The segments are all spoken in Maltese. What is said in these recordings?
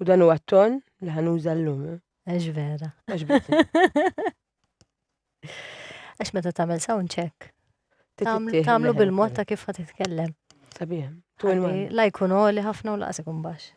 U dan huwa t-ton li ħanuża llum. Eh? Għax vera. Għax vera. Għax meta tagħmel sound check. Tagħmlu bil-mod ta' kif ħad titkellem. Sabiħ. La jkun għoli ħafna u laqas ikun baxx.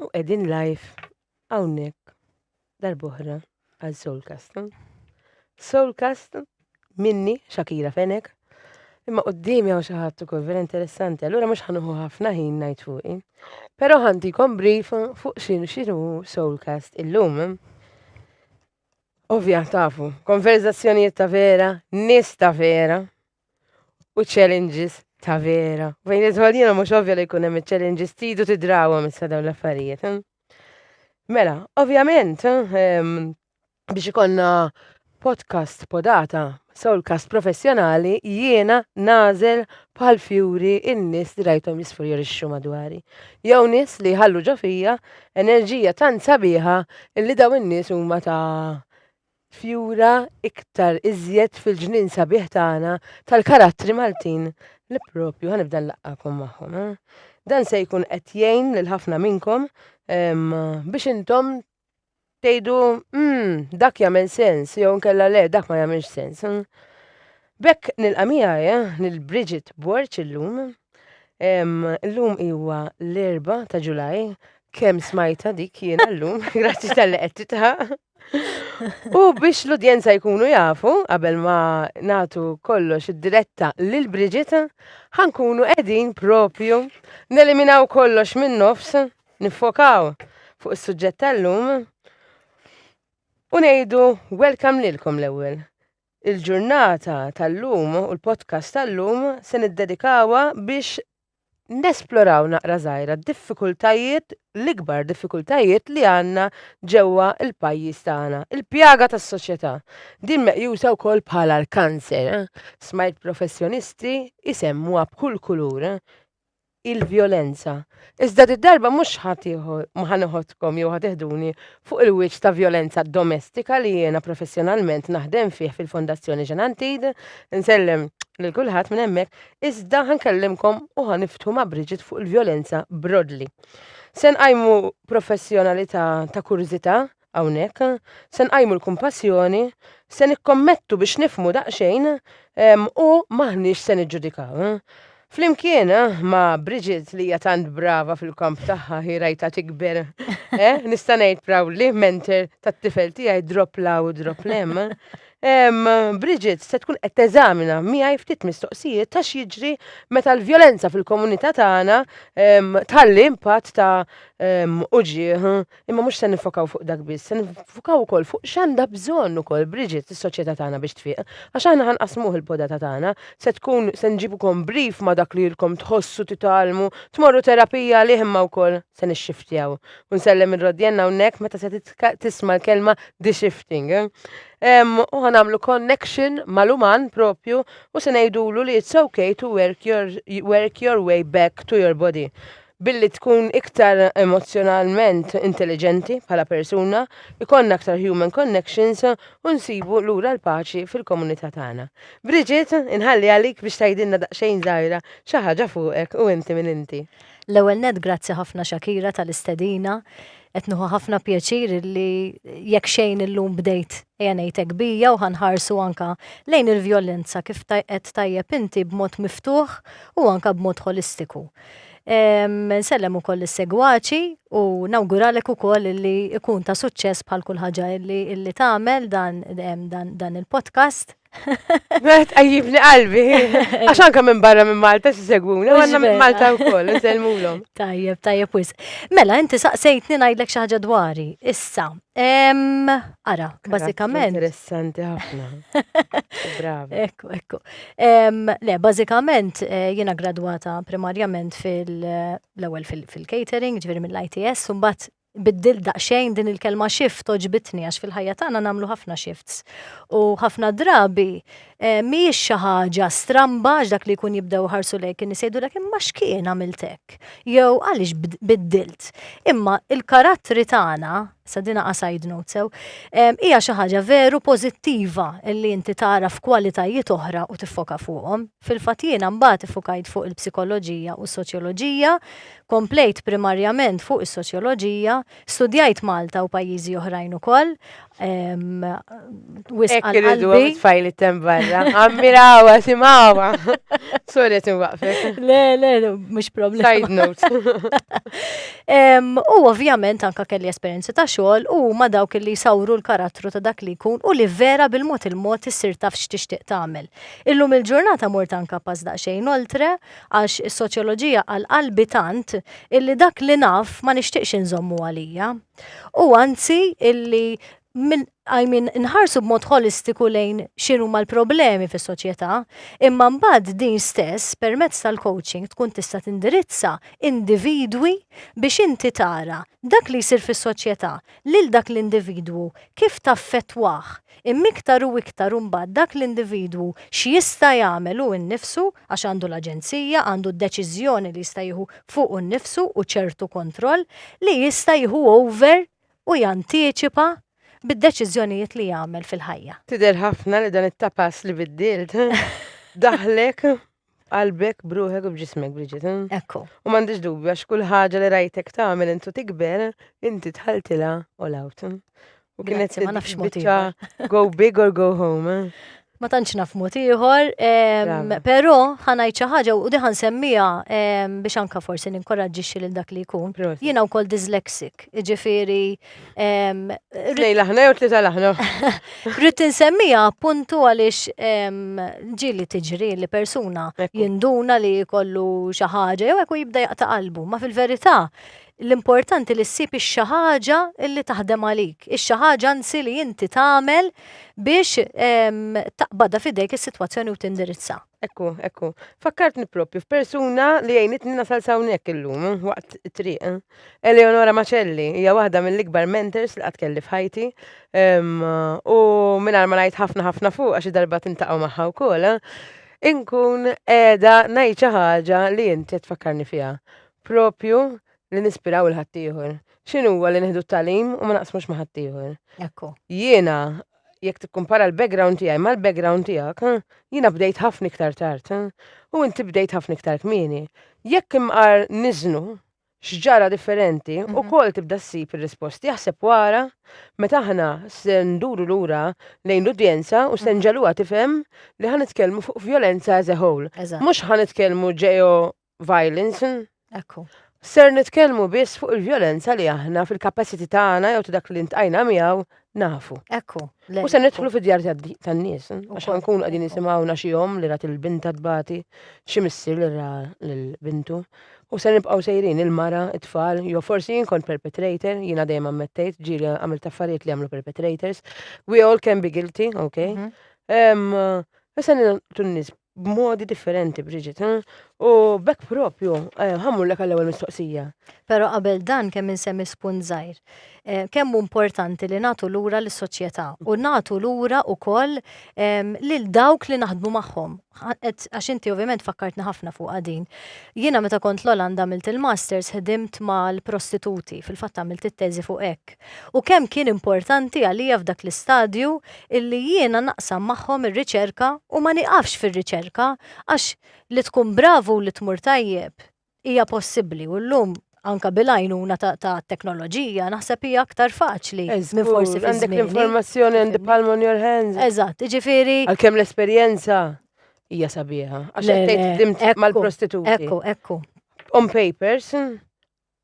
U qegħdin live hawnhekk darbohra għal Soulcast. Soulcast minni Shakira Fenek. Imma qoddimi għaw xaħat ukoll vera interessanti, allura mhux ħanuħu ħafna ħin ngħid fuqi. Però ħantikom brief fuq xinu xinu Soulcast illum. Ovvja tafu, konverzazzjonijiet ta' vera, nis ta' vera, u challenges ta' vera. Fejn idħol jiena mhux ovvja li jkun hemm challenges tidu tidrawhom issa dawn l-affarijiet. Eh? Mela, ovvjament, eh, biex ikonna podcast podata soulcast professjonali jiena nażel bħal fjuri in-nies li rajthom jisfurjorixxu madwari. Jew nies li ħallu ġo fija enerġija tant sabiħa li daw in-nies huma ta' tfjura iktar iżjed fil-ġnien sabiħ tagħna tal-karattri Maltin li propju ħanibda nlaqqakom magħhom. Eh? Dan se jkun qed jgħin lil ħafna minnkom biex intom tgħidu mm, dak jagħmel sens jew nkella le dak ma jagħmilx sens. Hmm? Bekk nilqa' miegħi eh, lil Bridget Borċ illum. Illum huwa l-erba ta' Ġulaj, kemm smajta dik jiena llum, grazzi tal-li qed titħaq. U biex l-udjenza jkunu jafu, qabel ma natu kollox id-diretta lil Bridget, ħankunu qegħdin propju neliminaw kollox minn nofs, nifokaw fuq is-suġġett tal-lum u ngħidu welcome lilkom l-ewwel. Il-ġurnata tal-lum u l-podcast tal-lum se niddedikawa biex nesploraw naqra żgħira d-diffikultajiet, l-ikbar diffikultajiet li għandna ġewwa l-pajjiż tagħna, il-pjaga tas-soċjetà. Din meqjusa wkoll bħala l-kanser. Smajt professjonisti jsemmuha b'kull kulur il-vjolenza. Iżda did-darba mhux ħa neħodkom jew ħa teħduni fuq il-wiċċ ta' vjolenza domestika li jiena professjonalment naħdem fih fil-Fondazzjoni Xenantid, insellem lil kulħadd minn hemmhekk, iżda ħa nkellimkom u ħa niftħu ma' Bridget fuq il-vjolenza brodli. Se nqajmu professjonalità ta' kurżità hawnhekk, se nqajmu l-kumpassjoni, se nikkommettu biex nifmu daqsxejn u maħniex se niġġudikaw. Flimkien eh, ma' Bridget li hija tant brava fil-kamp tagħha hi rajta tikber. Eh, nista' ngħid proudly mentor tat-tifel tiegħi drop la u drop lem. Bridget se tkun qed teżamina miegħi ftit mistoqsijiet ta' x'jiġri meta l-vjolenza fil-komunità tagħna tħalli impatt ta' uġigħ. Imma mhux se nifokaw fuq dak biss, se nifokaw ukoll fuq x'għandha bżonn ukoll Bridget is-soċjetà tagħna biex tfieq. Għax aħna ħanqasmuh il-podata tagħna, se tkun se nġibukom brief ma' dak li ilkom tħossu titgħallmu, tmorru terapija għalih imma wkoll. se nixxiftjaw. U nsellem il-rodjen hawnhekk meta se tisma' l-kelma de-shifting. U ħanamlu connection mal-uman propju u se ngħidulu li it's okay to work your, work your way back to your body billi tkun iktar emozjonalment intelligenti bħala persuna, ikonna aktar human connections u nsibu lura l-paċi fil-komunità tagħna. Bridget, inħalli għalik biex tgħidilna daqsxejn żgħira xi ħaġa fuqek u inti minn inti. L-ewwel nett grazzi ħafna Shakira tal-istedina. Qed nieħu ħafna pjaċir li jekk xejn illum bdejt ejja ngħidlek bija u ħa nħarsu anke lejn il-vjolenza kif qed tajjeb inti b'mod miftuħ u anke b'mod ħolistiku. Nsellem ukoll lis-segwaċi u nawguralek ukoll li jkun ta' suċċess bħal kull ħaġa li tagħmel dan il-podcast. Għet għajibni qalbi. Għaxan kam minn barra minn Malta s-segwuna, għanna minn Malta u koll, n-selmulom. Tajjeb, tajjeb wis. Mela, inti saqsejtni najdlek xaħġa dwari. Issa, ara, bazzikament. Interessanti ħafna. Bravo. Ekku, ekku. Le, bazzikament, eh, jena gradwata primarjament fil-ewel eh, fil-catering, ġveri mill-ITS, un bat Biddilt daqsxejn din il-kelma shift għoġbitni għax fil-ħajja tagħna nagħmlu ħafna shifts. U ħafna drabi eh, mhijiex xi ħaġa stramba għax dak li jkun jibdew iħarsu lejk in-nies jgħidulek imma x'kien għamilt hekk? Jew għaliex biddilt? Imma il-karattri tagħna, sa din qa side note sew, eh, hija xi ħaġa veru pożittiva li inti tara f'kwalitajiet oħra u tiffoka fuqhom. Fil-fatt jiena mbagħad iffukajt fuq il-psikoloġija u s-soċjoloġija Komplejt primarjament fuq is-soċjoloġija, studjajt Malta u pajjiżi oħrajn ukoll. Wisq għal qalbi. Tfajl it-tem barra. Ammirawa, simawa. Sorry tinwaqfek. Le, le, mhux problema. Side note. U ovvjament anka kelli esperjenzi ta' xogħol u ma dawk li jsawru l-karattru ta' dak li jkun u li vera bil-mod il-mod issir taf x'tixtieq tagħmel. Illum il-ġurnata mort anka pass daqsxejn oltre Għax is-soċjoloġija għal qalbi tant illi dak li naf ma nixtieqx inżommu għalija. U anzi illi min, I mean, nħarsu b'mod ħolistiku lejn x'inhuma l-problemi fis-soċjetà, imma mbagħad din stess permezz tal-coaching tkun tista' tindirizza individwi biex inti tara dak li jsir fis-soċjetà lil dak l-individwu kif taffettwah, Imma iktar u iktar imbagħad dak l-individwu x'jista' jagħmel hu nnifsu, għax għandu l-aġenzija, għandu d-deċiżjoni li jista' jieħu fuqu nnifsu u ċertu kontroll, li jista' jieħu over u jantiċipa bid-deċiżjonijiet li jagħmel fil-ħajja. Tidher ħafna li dan it-tapas li biddilt daħħlek B'qalbek, b'ruħek u b'ġismek, Bridget. Ekku. U m'għandix dubju għax kull ħaġa li rajtek tagħmel int u tikber, inti dħaltilha all out. U kienet Grazzi, ma nafx mod biċċa ieħor. go big or go home. Ma tantx naf mod ieħor, em, Brava. però ħanajt xi ħaġa u diħan semmija biex anka forsi ninkoraġġixxi lil dak li jkun. Proset. Jiena wkoll dyslexic, jiġifieri Tnejn laħna jew tlieta laħna. Rrid insemmija appuntu għaliex ġili tiġri li persuna jinduna li jkollu xi ħaġa jew hekk jibda jaqta' qalbu, ma fil-verità l-importanti li ssib ix-xi ħaġa li taħdem għalik, ix-xi ħaġa anzi li inti tagħmel biex taqbadha f'idejk is-sitwazzjoni u tindirizza. Ekku, ekku. Fakkartni propju f'persuna li għajnitni nasal sawnek illum waqt triq. Eleonora Macelli hija waħda mill-ikbar mentors li qatt kelli f'ħajti. U mingħajr ma ngħid ħafna ħafna fuq għax darba tintaqgħu magħha wkoll. Inkun qiegħda ngħid xi ħaġa li inti qed tfakkarni fiha. Propju li nispiraw il-ħaddieħor. X'inhuwa li nieħdu t-talim u ma naqsmux ma' ħaddieħor. Ekku. Jiena jekk tikkumpara l-background tiegħi mal-background tiegħek, jiena bdejt ħafna iktar tard u inti bdejt ħafna iktar kmieni. Jekk imqar niżnu x'ġara differenti u mhm. kol tibda ssib ir-risposti jaħseb wara meta aħna se nduru lura lejn l-udjenza u se mhm. nġeluha tifhem li ħan nitkellmu fuq violenza as a whole. Mhux ħan nitkellmu ġeo violence. Ekku. Ser nitkellmu biss fuq il-vjolenza li aħna fil-kapaċiti tagħna jew ta' dak li ntqajna miegħu nafu. Ekku. U se nidħlu fid-djar tan-nies, eh? għax nkunu qegħdin nisimgħuna xi jom li rat il-binta tbati, xi missier li ra l-bintu. U se nibqgħu sejrin il-mara, it-tfal, jew forsi jien kont perpetrator, jiena dejjem ammettejt, ġieli għamil taffariet li għamlu perpetrators. We all can be guilty, ok? Mhm. Issa nil-tunnis b'modi differenti, Bridget. eh? U bekk propju, eh, ħammur l għall-ewwel mistoqsija. Pero qabel dan kemm insemmi spunt żgħir. Eh, Kemm hu importanti li nagħtu lura lis-soċjetà u nagħtu lura wkoll em, lil dawk li naħdmu magħhom. Ħa- qed- Għax inti ovvjament fakkartni ħafna fuq din. Jiena meta kont l-Olanda għamilt il-masters ħdimt mal-prostituti, fil-fatt għamilt it-teżi fuq hekk. U kemm kien importanti għalija f'dak l-istadju illi jiena naqsam magħhom ir-riċerka u ma nieqafx fir-riċerka għax li tkun bravu u li tmur tajjeb hija possibbli u llum anke bil-għajnuna tat-teknoloġija naħseb hija aktar faċli minn forsi fi żmieni. Għandek l-informazzjoni and the palm on your hands. Eżatt, jiġifieri. Għalkemm l-esperjenza hija sabiħa. Għax qed tgħid mal-prostituti. Ekku, ekku. On papers,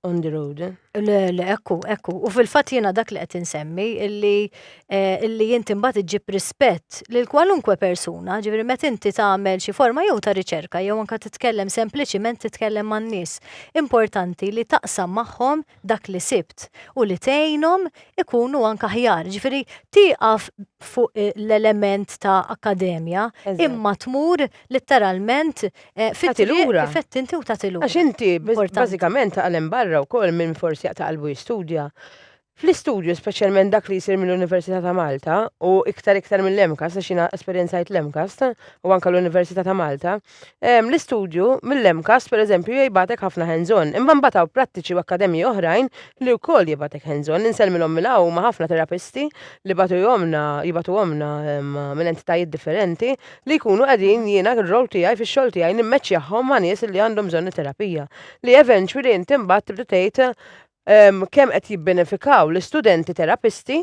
on the road. Eh? Le, le, ekku, ekku. U fil-fat jena dak li qed insemmi illi eh, illi jinti mbagħad iġib rispett lil kwalunkwe persuna, ġifieri meta inti tagħmel xi forma jew ta' riċerka jew anke titkellem sempliċiment titkellem man-nies. Importanti li taqsam magħhom dak li sibt u li tgħinhom ikunu anke aħjar. Ġifieri tieqaf fuq eh, l-element ta' akademja imma tmur Litteralment, fit-triq lura. Fett inti u tagħti lura. Għax inti bażikament taqal hemm barra wkoll minn forsi jaqta' qalbu jistudja. Fl-istudju, speċjalment dak li jsir mill-Università ta' Malta, u iktar iktar mill-MCAST, għax jiena esperjenzajt l-MCAST u anke l-Università ta' Malta, l-istudju mill-MCAST, pereżempju, jibgħatek ħafna hands on. Imma mbagħad hawn prattiċi u akkademji oħrajn li wkoll jibgħatek hands on. Insellmilhom minn hawn, huma ħafna terapisti li bagħtuhomlna, jibgħatuhomlna minn entitajiet differenti li jkunu qegħdin jiena r-role tiegħi fix-xogħol tiegħi nimmeċċjahom ma' nies li għandhom bżonn it-terapija. Li eventually int imbagħad tibda tgħid ehm, kemm qed jibbenefikaw l-istudenti terapisti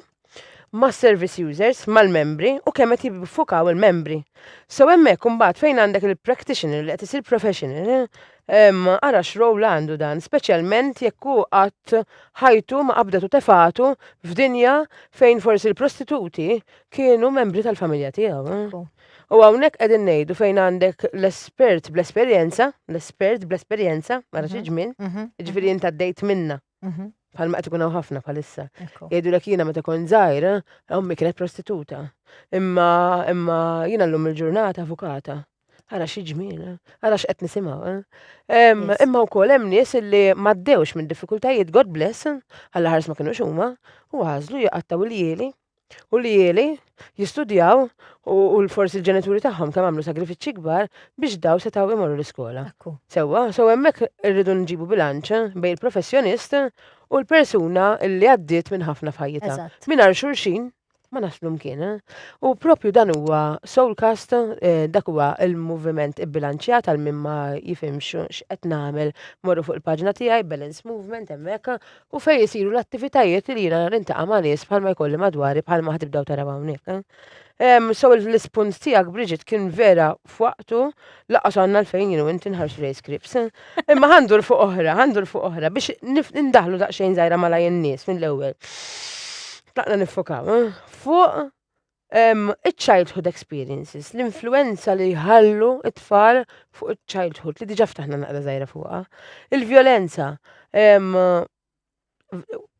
mas-service users, mal-membri u kemm qed jibfukaw il-membri. So hemmhekk imbagħad fejn għandek il-practitioner li qed isir professional, ehm, ara x'role għandu dan, speċjalment jekk hu qatt ħajtu ma qabdet u tefatu f'dinja fejn forsi l-prostituti Kienu membri tal-familja tiegħu. Eh? U hawnhekk qegħdin ngħidu fejn għandek l-espert bl-esperjenza, l-espert bl-esperjenza, mara xi mhm. ġmien, mhm. ġifieri mhm. inta dejt minna. Bħal ma qed ikun hawn ħafna bħalissa. Jgħidulek jiena meta kont żgħira, ommi kienet prostituta. Imma imma jiena llum il-ġurnata avukata. Ara xi ġmien, eh? ara x'qed nisimgħu. Eh? Imma wkoll hemm nies li m'għaddewx minn diffikultajiet God bless, għall ħars ma kinux huma, u għażlu jaqattaw il-jieli u li jeli jistudjaw u l-forsi l-ġenituri tagħhom kemm għamlu sagrifiċċji kbar biex daw setgħu imorru l-iskola. Sewwa, so hemmhekk irridu nġibu bilanċ bejn il-professjonist u l-persuna li għaddiet minn ħafna f'ħajjitha. Mingħajr xulxin ma naslu mkien. U propju dan huwa Soulcast, eh, dak huwa il-moviment ibbilanċjat għal min ma jifhimx x'qed nagħmel morru fuq il-paġna tiegħi Balance Movement hemmhekk u fejn isiru l-attivitajiet li jiena nintaqa' ma' nies bħalma jkolli madwari bħalma ħad tibdew taraw hawnhekk. Eh? Um, so l-ispunt tiegħek Bridget kien vera f'waqtu laqas għandna l-fejn jienu inti nħarsu lej scripts. Imma għandu l-fuq oħra, għandu l-fuq oħra biex nindaħlu daqsxejn żgħira malaj in-nies mill-ewwel. Tlaqna nifokaw, eh? fuq Iċ-childhood experiences, l-influenza li jħallu it-tfal fuq iċ-childhood li diġa ftaħna naqra żgħira fuqha. Il-vjolenza,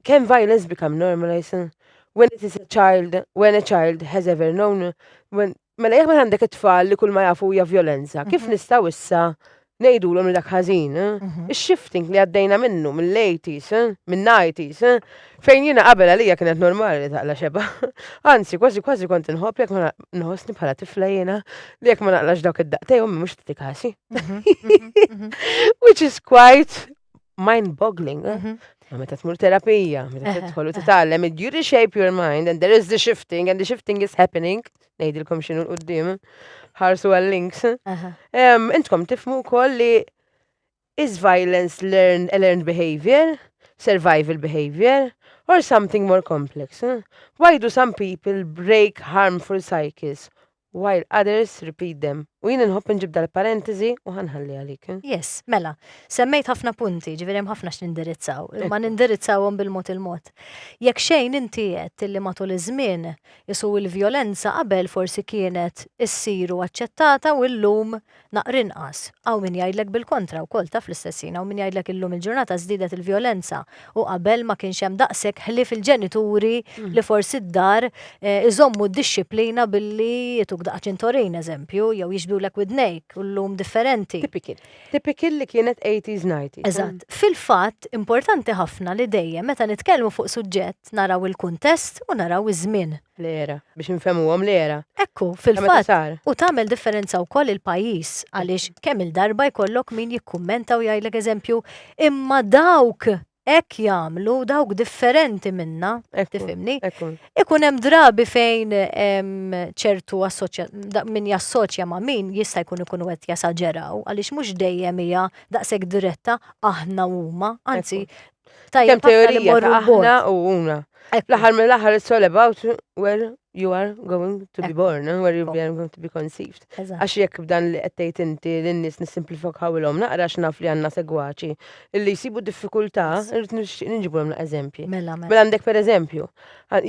can violence become normalized when it is a child, when a child has ever known, when, mela jek ma għandek it-tfal li kull ma jafu hija violenza, kif mhm. nistaw issa ngħidulhom li dak ħażin, ix-shifting li għaddejna minnu mill-80s, min-90s, fejn jiena qabel għalija kienet normali li taqla' xebgħa. Anzi, kważi kważi kont inħobb jekk ma nħossni bħala tifla jiena li jekk ma naqlax dawk id-daqtej ommi mhux tagħti kasi. Which is quite mind-boggling. Mhm. Ma meta tmur terapija, meta tidħol u titgħallem, you reshape your mind and there is the shifting and the shifting is happening. Ngħidilkom x'inhu l-qudiem. Ħarsu għal-links. Intkom tifmu wkoll li is violence learned, learned behavior, survival behavior, or something more complex? Why do some people break harmful cycles? While others repeat them. U jien inħobb inġib dal-parentesi u ħa nħalli għalik. Yes, mela, semmejt ħafna punti, ġifieri hemm ħafna x'nindirizzaw, imma nindirizzawhom bil-mod il-mod. Jekk xejn inti għedt li matul iż-żmien qisu l-vjolenza qabel forsi kienet issir u aċċettata u llum Naqr inqas. Hawn min jgħidlek bil-kontra wkoll, taf l-istess jien, hawn min jgħidlek illum il-ġurnata żdiedet il-vjolenza u qabel ma kienx hemm daqshekk ħlief il-ġenituri li forsi d-dar iżommu d-dixxiplina billi jtuk daqqa ċintorin, eżempju, jew jixbhulek widnejk u llum differenti. Typical. Typical li kienet eighties, nineties. Eżatt. Fil-fatt, importanti ħafna li dejjem meta nitkellmu fuq suġġett naraw il-kuntest u naraw iż-żmien. L-era. Biex infehmuhom l-era. Hekk hu, fil-fatt, u tagħmel differenza wkoll il-pajjiż għaliex kemm-il darba jkollok min jikkummenta u jgħidlek eżempju, imma dawk hekk jagħmlu, dawk differenti minna, tifhimni? Ikun hemm drabi fejn ċertu min jassoċja ma' min jista' jkun ikunu qed jesaġeraw għaliex mhux dejjem hija daqshekk diretta aħna u huma, anzi Tajjeb, Kemm teorija ta' aħna u una. L-aħħar mill-aħħar it's all about where you are going to be born and where you are going to be conceived. Għax jekk b'dan li qed inti lin-nies nisimplifikaw ilhom naqra x'naf li għandna segwaċi illi jsibu diffikultà irid nixtieq niġibu hemm eżempji. Mela, mela. mela għandek pereżempju,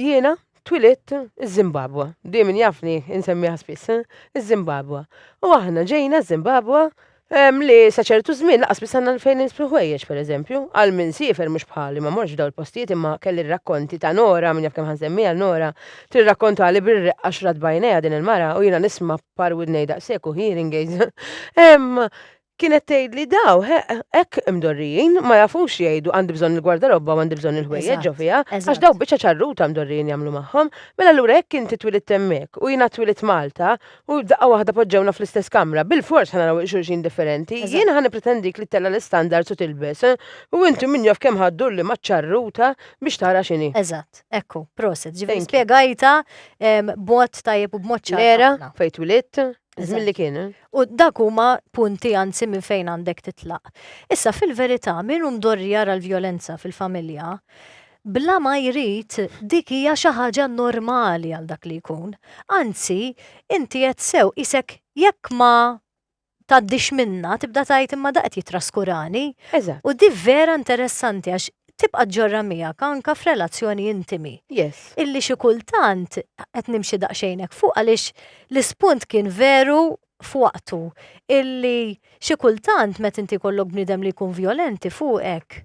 jiena twilit iż-Zimbabwa, dejjem jafni insemmiha spiss, iż-Zimbabwa. U aħna ġejna ż-Zimbabwa Hemm li sa ċertu żmien laqas biss għandna fejn nisbru ħwejjeġ pereżempju. Għal min siefer mhux bħali ma mortx f'dawn il-postijiet imma kelli r-rakkonti ta' Nora, min jaf kemm ħansemmiha Nora, tirrakkontali bir-reqqa x'rat b'għajnejha din il-mara u jiena nisma' b'par widnej daqshekk u hearing aids hemm kienet tgħidli daw hekk imdorrijin ma jafux jgħidu għandi bżonn il-gwardarobba u għandi bżonn il-ħwejjeġ ġo fiha għax daw biċċa ċarruta mdorrijin jagħmlu magħhom. Mela allura jekk inti twilidt hemmhekk u jiena twilit Malta U f'daqqa waħda poġġewna fl-istess kamra. Bilfors ħa naraw il-xulxin differenti. Jien ħa nippretendik li tella' l-istandards u tilbes. U inti min jaf kemm ħa ddur li maċ-ċarruta biex tara x'inhi. Eżatt. Hekk hu. Prosit. Ġifieri spjegajtha b'mod tajjeb u b'mod ċar. L-era fejn twilidt, iż-żmien li kien. U dak huma punti anzi minn fejn għandek titlaq. Issa fil-verità min hu mdorri jara l-vjolenza fil-familja, bla ma jrid, dik hija xi ħaġa normali għal dak li jkun. Anzi, inti għedt sew, qisek jekk ma tgħaddix minnha, tibda tgħid imma da qed jitraskurani. Eżatt. U di vera interessanti għax tibqa' ġġorrha miegħek anke f'relazzjoni intimi. Yes. Illi xi kultant qed nimxi daqsxejn hekk fuq għaliex l-ispunt kien veru f'waqtu illi xi kultant meta inti jkollok bniedem li jkun vjolenti fuqek,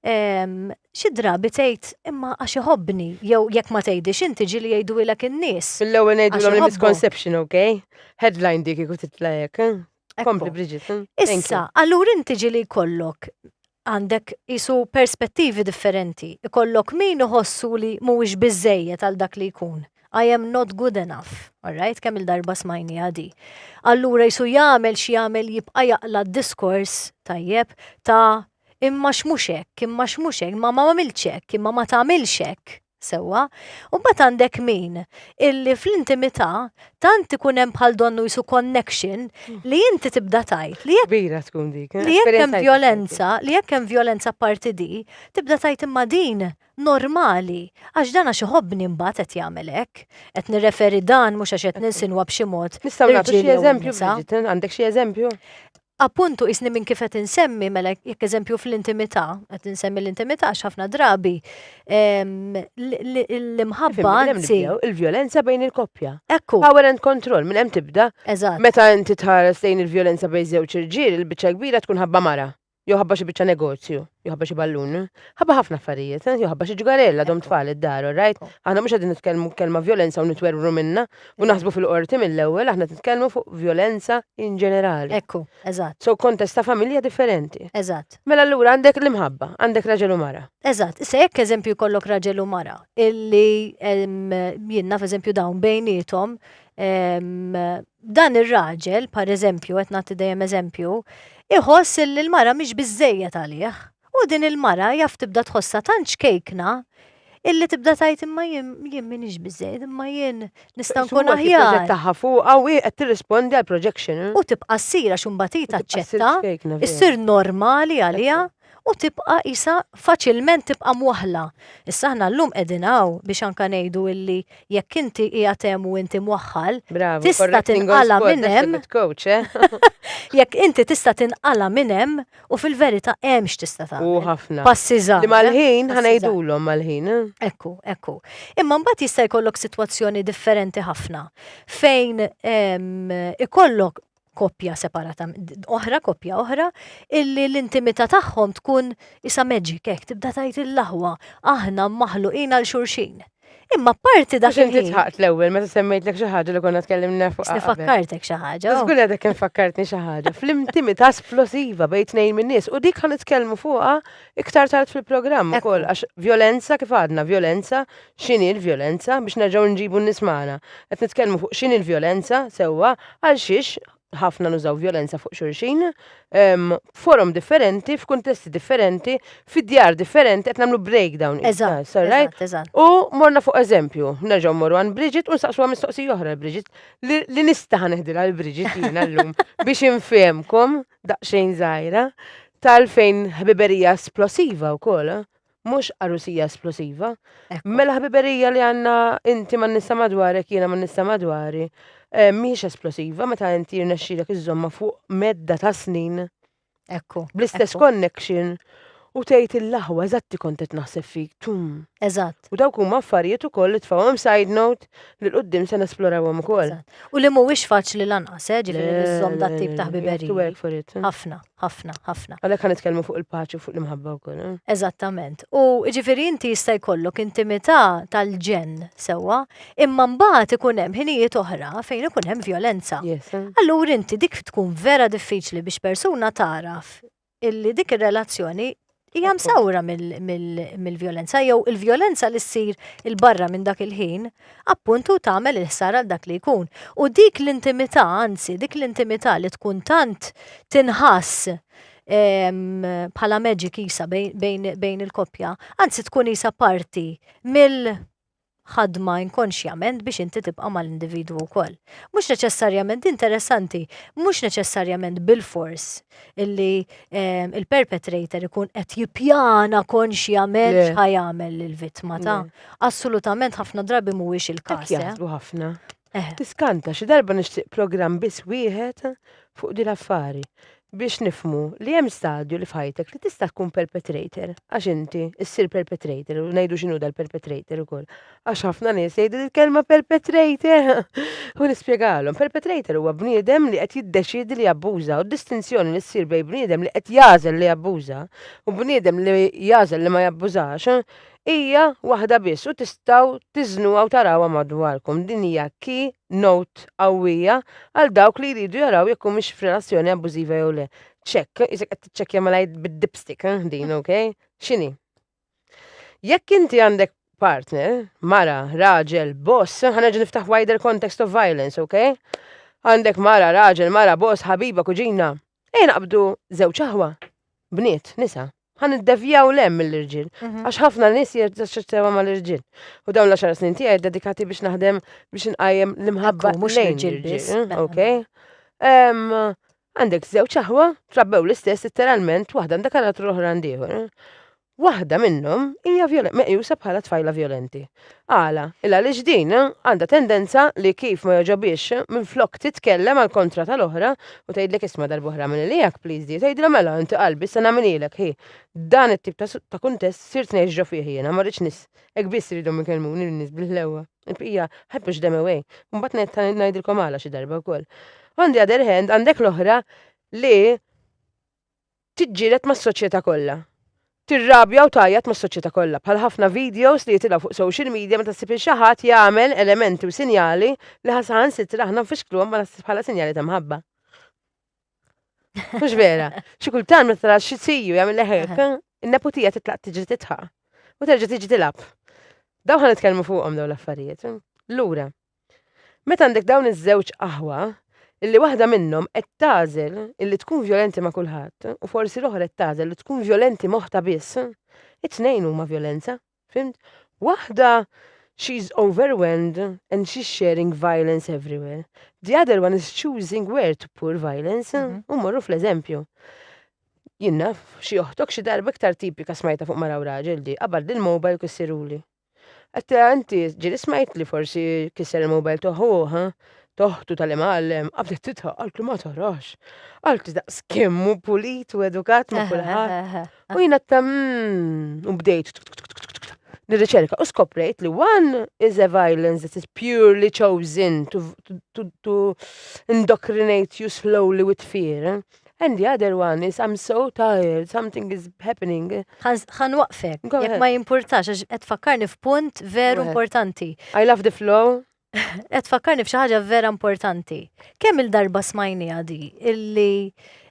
ehm, xi drabi tgħid imma għax iħobbni jew jekk ma tgħidix inti ġieli jgħidulek in-nies. L-ewwel ngħidulhom il-misconception, ok? Headline dik ikut titlajek. Eh? Kompli Bridget. Eh? Issa, allura inti ġieli jkollok għandek qisu perspettivi differenti. Ikollok min iħossu li mhuwiex biżejjed għal dak li jkun. I am not good enough, alright, kemm il-darba smajni għadi. Allura jisu jagħmel xi jagħmel jibqa' jaqla d-diskors tajjeb ta' imma x'mhux hekk, imma x'mhux hekk, imma ma għamilx hekk, imma ma tagħmilx hekk. Sewwa. U mbagħad għandek min illi fl-intimità tant ikun hemm bħal donnu jisu connection li inti tibda tgħid li jekk Kbira tkun dik. li jekk hemm vjolenza, li jekk hemm vjolenza apparti di, tibda tgħid imma din normali għax dan għax iħobbni mbagħad qed jagħmel hekk. Qed nirreferi dan mhux għax qed ninsinwa b'xi mod. Nistgħu nagħtu xi eżempju, Bridget? Għandek xi eżempju? Appuntu, qisni minn kif qed insemmi, mela jekk eżempju fl-intimità, qed insemmi l-intimità għax ħafna drabi ehm, l- l- l-imħabba Fimni, minn hemm anzi. nibdew? Il-vjolenza bejn il-koppja. Ekku, Power and control, minn hemm tibda. eżatt. Meta inti tħares lejn il-vjolenza bejn żewġ irġiel, il-biċċa kbira tkun ħabba mara. Jew ħabba xi biċċa negozju, jew ħabba xi ballun. Ħabba ħafna affarijiet, eh, jew ħabba xi ġgarella dom tfal id-dar, all right? Aħna mhux qegħdin nitkellmu kelma vjolenza u nitwerwru minna, U naħsbu fil-qorti mill-ewwel aħna titkellmu fuq vjolenza in ġenerali. Ekku, eżatt. So kontest ta' familja differenti. Eżatt. Mela allura għandek l-imħabba, għandek raġel u mara. Eżatt, issa jekk eżempju jkollok raġel u mara illi jien naf eżempju dawn bejniethom dan ir-raġel, pereżempju qed nagħti dejjem eżempju, iħoss illi l-mara mhix biżżejjed għalih. U din il-mara jaf tibda tħossha tant xkejkna illi tibda tgħid imma jien jien m'iniex biżejjed, imma jien nista' nkun aħjar. Proġett tagħha fuqha u hi qed tirrispondi għal projection. U tibqa' ssir għax imbagħad hi taċċetta, issir normali għaliha u tibqa' qisha faċilment tibqa' mwaħħla. Issa aħna llum qegħdin hawn biex anke ngħidu illi jekk inti qiegħed hemm u inti mwaħħal, tista' tinqala' minn hemm. Jekk inti tista' tinqala' minn hemm U fil-verità hemm x'tista' tagħmel. U ħafna. Passi żgħar. Li mal-ħin ħanejdulhom mal-ħin. Eh? Ekku, ekku. Imma mbagħad jista' jkollok sitwazzjoni differenti ħafna fejn ehm, ikollok koppja separata, oħra koppja oħra, illi l-intimità tagħhom tkun isa magic hekk tibda tajt il-laħwa, aħna maħluqin għal xurxin. Imma parti dak il-ħin. Inti tħaqt l-ewwel meta semmejtlek xi ħaġa li konna tkellimna fuq. Nifakkartek xi ħaġa. Oh. Żgur għadek infakkartni xi ħaġa. Fl-intimità esplosiva bejn tnejn minn nies u dik ħan nitkellmu fuqha iktar tard fil-programm ukoll għax violenza kif għadna, violenza x'inhi l-violenza biex nerġgħu nġibu n-nies magħna. Qed nitkellmu fuq x'inhi l-violenza sewwa għal xiex ħafna nużaw vjolenza fuq xulxin, forum differenti, f'kuntesti differenti, fid-djar differenti, qed nagħmlu breakdown. Eżatt, eżatt, eżatt. U morna fuq eżempju, nerġgħu morru għan Bridget u nsaqsuha mistoqsija oħra l-Bridget, li nista' ħaneħdilha l-Bridget jiena llum biex infehmkom daqsxejn żgħira tal-fejn ħbiberija esplosiva wkoll, mhux arusija esplosiva. Mela ħbiberija li għandna inti ma nista madwarek jiena ma nista madwari eh, mhix esplosiva meta inti rnexxilek iżomma fuq medda ta' snin. Ekku. Bl-istess connection u tgħid il-laħwa eżatti kont qed naħseb fik tum. Eżatt. U dawk huma affarijiet ukoll li tfawhom side note li l-qudiem se nesplorawhom ukoll. U li mhuwiex faċli lanqas, eh, ġifieri li żżomm dat-tip ta' ħbiberija. Ħafna. ħafna, ħafna. Għalhekk ħa nitkellmu fuq il-paċi u fuq l-imħabba wkoll. Eh? Eżattament. U ġifieri inti jista' jkollok intimità tal-ġen sewwa, imma mbagħad ikun hemm ħinijiet oħra fejn ikun hemm violenza. Eh? Allura inti dik tkun vera diffiċli biex persuna taraf illi dik ir-relazzjoni hija msawra mill-vjolenza jew il-vjolenza li ssir il-barra minn dak il-ħin, appuntu tagħmel il-ħsara dak li jkun. U dik l-intimità, anzi, dik l-intimità li tkun tant tinħass ehm, bħala magic isa bejn il-koppja, anzi tkun isa parti mill- ħadma inkonxjament biex inti tibqa' mal-individwu wkoll. Mhux neċessarjament, din interessanti, mhux neċessarjament bilfors illi ehm, il-perpetrator ikun qed jippjana konxjament x'ħajamel lill-vittma ta' assolutament ħafna drabi mhuwiex il-każ. Eh? Ħafna. Eh. Tiskanta, xi darba nixtieq programm biss wieħed fuq din affari biex nifmu li hemm stadju li f'ħajtek li tista' tkun perpetrator, għax inti issir perpetrator u ngħidu x'inhu dal-perpetrator ukoll. Għax ħafna nies jgħidu l-kelma perpetrator u nispjegalhom. Perpetrator huwa bniedem li qed jiddeċiedi li jabbuża u d-distinzjoni li ssir bejn bniedem li qed jażel li jabbuża u bniedem li jażel li ma jabbużax hija waħda biss u tistgħu tiżnuha u tarawha madwarkom. Din hija key note qawwija għal dawk li jridu jaraw jekk humiex f'relazzjoni abbużiva jew le. Check, isek qed tiċċekkja mela bid-dipstick eh, din, ok? X'inhi? Jekk inti għandek partner, mara, raġel, boss, ħanerġa' niftaħ wider context of violence, ok? Għandek mara, raġel, mara, boss, ħabiba, kuġina, Ejja naqbdu żewġ aħwa, bniet, nisa, ħan iddevjaw lem mill-irġiel, mhm. għax ħafna nies jirċeċċewa mal-irġiel. U dawn l-10 snin tiegħi dedikati biex naħdem biex inqajjem l-imħabba mhux l-irġiel biss. Eh, eh. Ok. Għandek żewġ aħwa, trabbew l-istess literalment, waħda għandek għal oħra għandieħor. Eh. Waħda minnhom hija meqjusa bħala tfajla vjolenti. Għala? Il għaliex din għandha tendenza li kif ma jogħġobhiex minflok titkellem għall-kontra tal-oħra u tgħidlek isma' darb'oħra agħmel li hekk please dear tgħidilha mela inti qalbi issa nagħmilhielek hi dan it-tip ta' kuntest sirt ngħix ġo fih jiena ma rridx nies hekk biss iridhom ikellmuni lin-nies bil-ħlewwa il-bqija I push them away imbagħad ngħidilkom għala xi darba wkoll. On the other hand għandek l-oħra li tiġġieled mas-soċjetà kollha. Tirrabja u tgħajjat mas-soċjetà kollha, bħal ħafna videos li jitilgħu fuq social media meta ssib lil xi ħadd jagħmel elementi u sinjali li ħa saħansitra aħna nfixkluhom bħala sinjali ta' mħabba. Mhux vera. Xi kultant meta tara xi siju jagħmel hekk, in-neputija titlaq tiġri titħaq u terġa' tiġi tilgħab. Dawn ħa nitkellmu fuqhom dawn l-affarijiet. Lura, Meta għandek dawn iż-żewġ aħwa, illi waħda minnhom qed tagħżel illi tkun vjolenti ma' kulħadd u forsi l-oħra qed tagħżel li tkun vjolenti moħħta biss, it-tnejn huma vjolenza, fhimt? Waħda she's overwhelmed and she's sharing violence everywhere. The other one is choosing where to pour violence mhm. u morru fl-eżempju. Jinnaf, xi oħtok xi darba iktar tipika smajta fuq mara u raġel di, qabad il-mobile kissiruli. Għatta eh, inti ġili smajt li forsi kisser il-mobile toħuħa, toħtu tal-imgħallem, għabdet titħaq, għalt li ma tarax. Għalt daqs kemmu pulit u edukat ma kulħadd. U jina ta' mm, u bdejt nirriċerka u skoprejt li one is a violence that is purely chosen to, to, to indoctrinate you slowly with fear. Eh? And the other one is I'm so tired, something is happening. Għan waqfek, jek ma jimpurtax, għax qed fakkarni f'punt veru importanti. I love the flow. Qed fakkarni f'xi ħaġa vera importanti. Kemm il-darba smajni għadi illi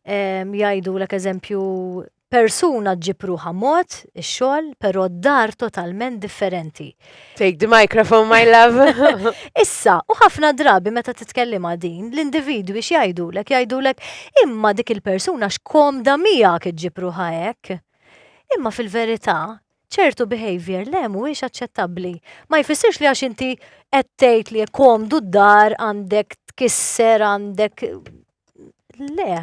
ehm, jgħidu l eżempju Persuna ġġib ruħha mod ix-xogħol però d-dar totalment differenti. Take the microphone my love. Issa, u ħafna drabi meta titkellimha din, l-individwi x'jgħidulek? Jgħidulek, imma dik il-persuna x'komda miegħek iġġib ruħha hekk. Imma fil-verità, ċertu behaviour le mhuwiex aċċettabbli. Ma jfissirx li għax inti qed tgħid li komdu d-dar għandek tkisser għandek Le,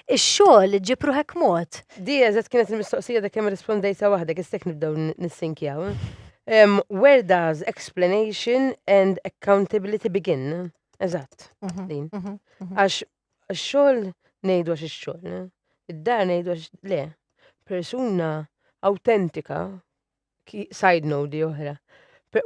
ix-xogħol ġib ruħek mod. Di eżatt kienet il-mistoqsija dak kemm rispondejta waħdek, istek nibdew nissinkjaw. Um, where does explanation and accountability begin? Eżatt, mhm, din. Mhm, mhm. Għax xogħol ngħidu għax ix-xogħol, id-dar ngħidu għax le. Persuna autentika Side note di oħra.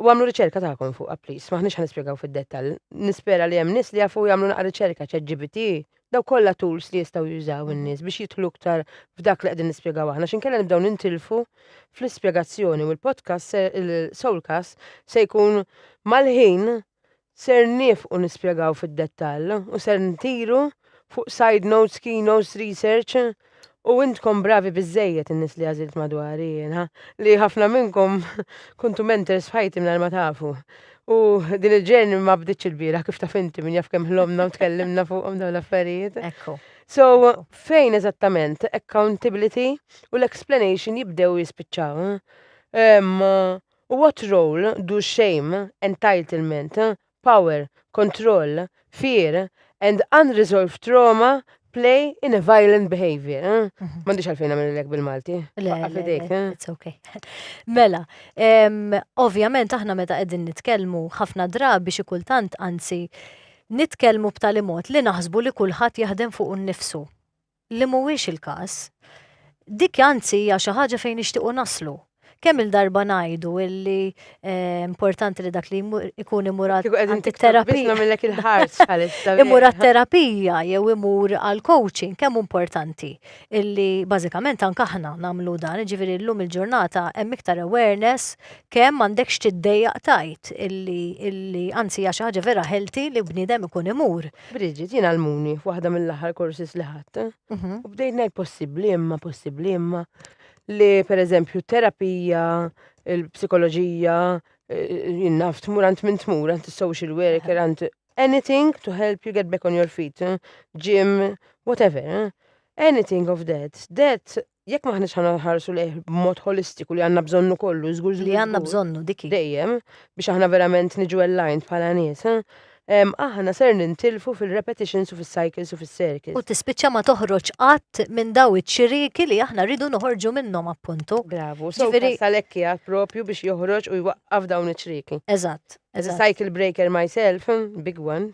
U għamlu riċerka tagħkom fuqha please, maħniex ħanispjegaw fid-dettall. Nispera li hemm nies li jafu jagħmlu naqra riċerka ChatGPT, daw kollha tools li jistgħu jużaw in-nies biex jidħlu iktar f'dak li qegħdin nispjegaw aħna x'inkella nibdew nintilfu fl-ispjegazzjoni u l-podcast il-Soulcast se jkun mal-ħin Ser nieqfu u nispjegaw fid-dettall u ser ntiru fuq side notes, key notes, research u intkom bravi biżżejjed in-nies li għażilt madwari jiena li ħafna minnkom kuntu mentors f'ħajti mingħajr ma tafu. U din il-journey ma bdietx ilbieraħ kif taf inti min jaf kemm ħlomna u tkellimna fuqhom dawn l-affarijiet. Ekku. So, fejn eżattament accountability u l-explanation jibdew u jispiċċaw? Ehm. What role do shame, entitlement, power, control, fear, and unresolved trauma play in a violent behavior? M'għandix għalfejn nagħmililek bil-Malti. Faqqa' f'idejk. It's okay. Mela, em, ovvjament aħna meta qegħdin nitkellmu ħafna drabi xi kultant anzi nitkellmu b'tali mod li naħsbu li kulħadd jaħdem fuqu nnifsu. li mhuwiex il-każ. Dik anzi hija xi ħaġa fejn nixtiequ naslu. Kemm-il darba ngħidu li importanti li dak li jkun imur għat-terapija. Imur għat-terapija jew imur għall-coaching, kemm hu importanti li bażikament anke aħna nagħmlu dan, jiġifieri llum il-ġurnata hemm iktar awareness kemm m'għandekx tiddejjaq tgħid li anzi hija xi ħaġa vera healthy li bniedem ikun imur. Bridget, jien għalmuni f'waħda mill-aħħar korsis li ħadd. Mhm. U bdejt ngħid possibbli imma, possibbli imma li pereżempju terapija, il-psikoloġija, eh, jinnaf tmur għand minn tmur għand is-social worker għand anything to help you get back on your feet, eh, gym, whatever. eh. Anything of that. That Jekk m'aħniex ħa nħarsu lejh b'mod ħolistiku li għandna bżonnu kollu, żgur żgur. Li għandna bżonnu diki. Dejjem biex aħna verament niġu aligned bħala nies, aħna ser nintilfu fil-repetitions u fis-cycles u fis-circles. U tispiċċa ma toħroġ qatt minn daw iċ-ċiriki li aħna rridu noħorġu minnhom appuntu. Bravu, so tal-ekki għad propju biex joħroġ u jwaqqaf dawn iċ-ċiriki. Eżatt. As a cycle breaker myself, big one,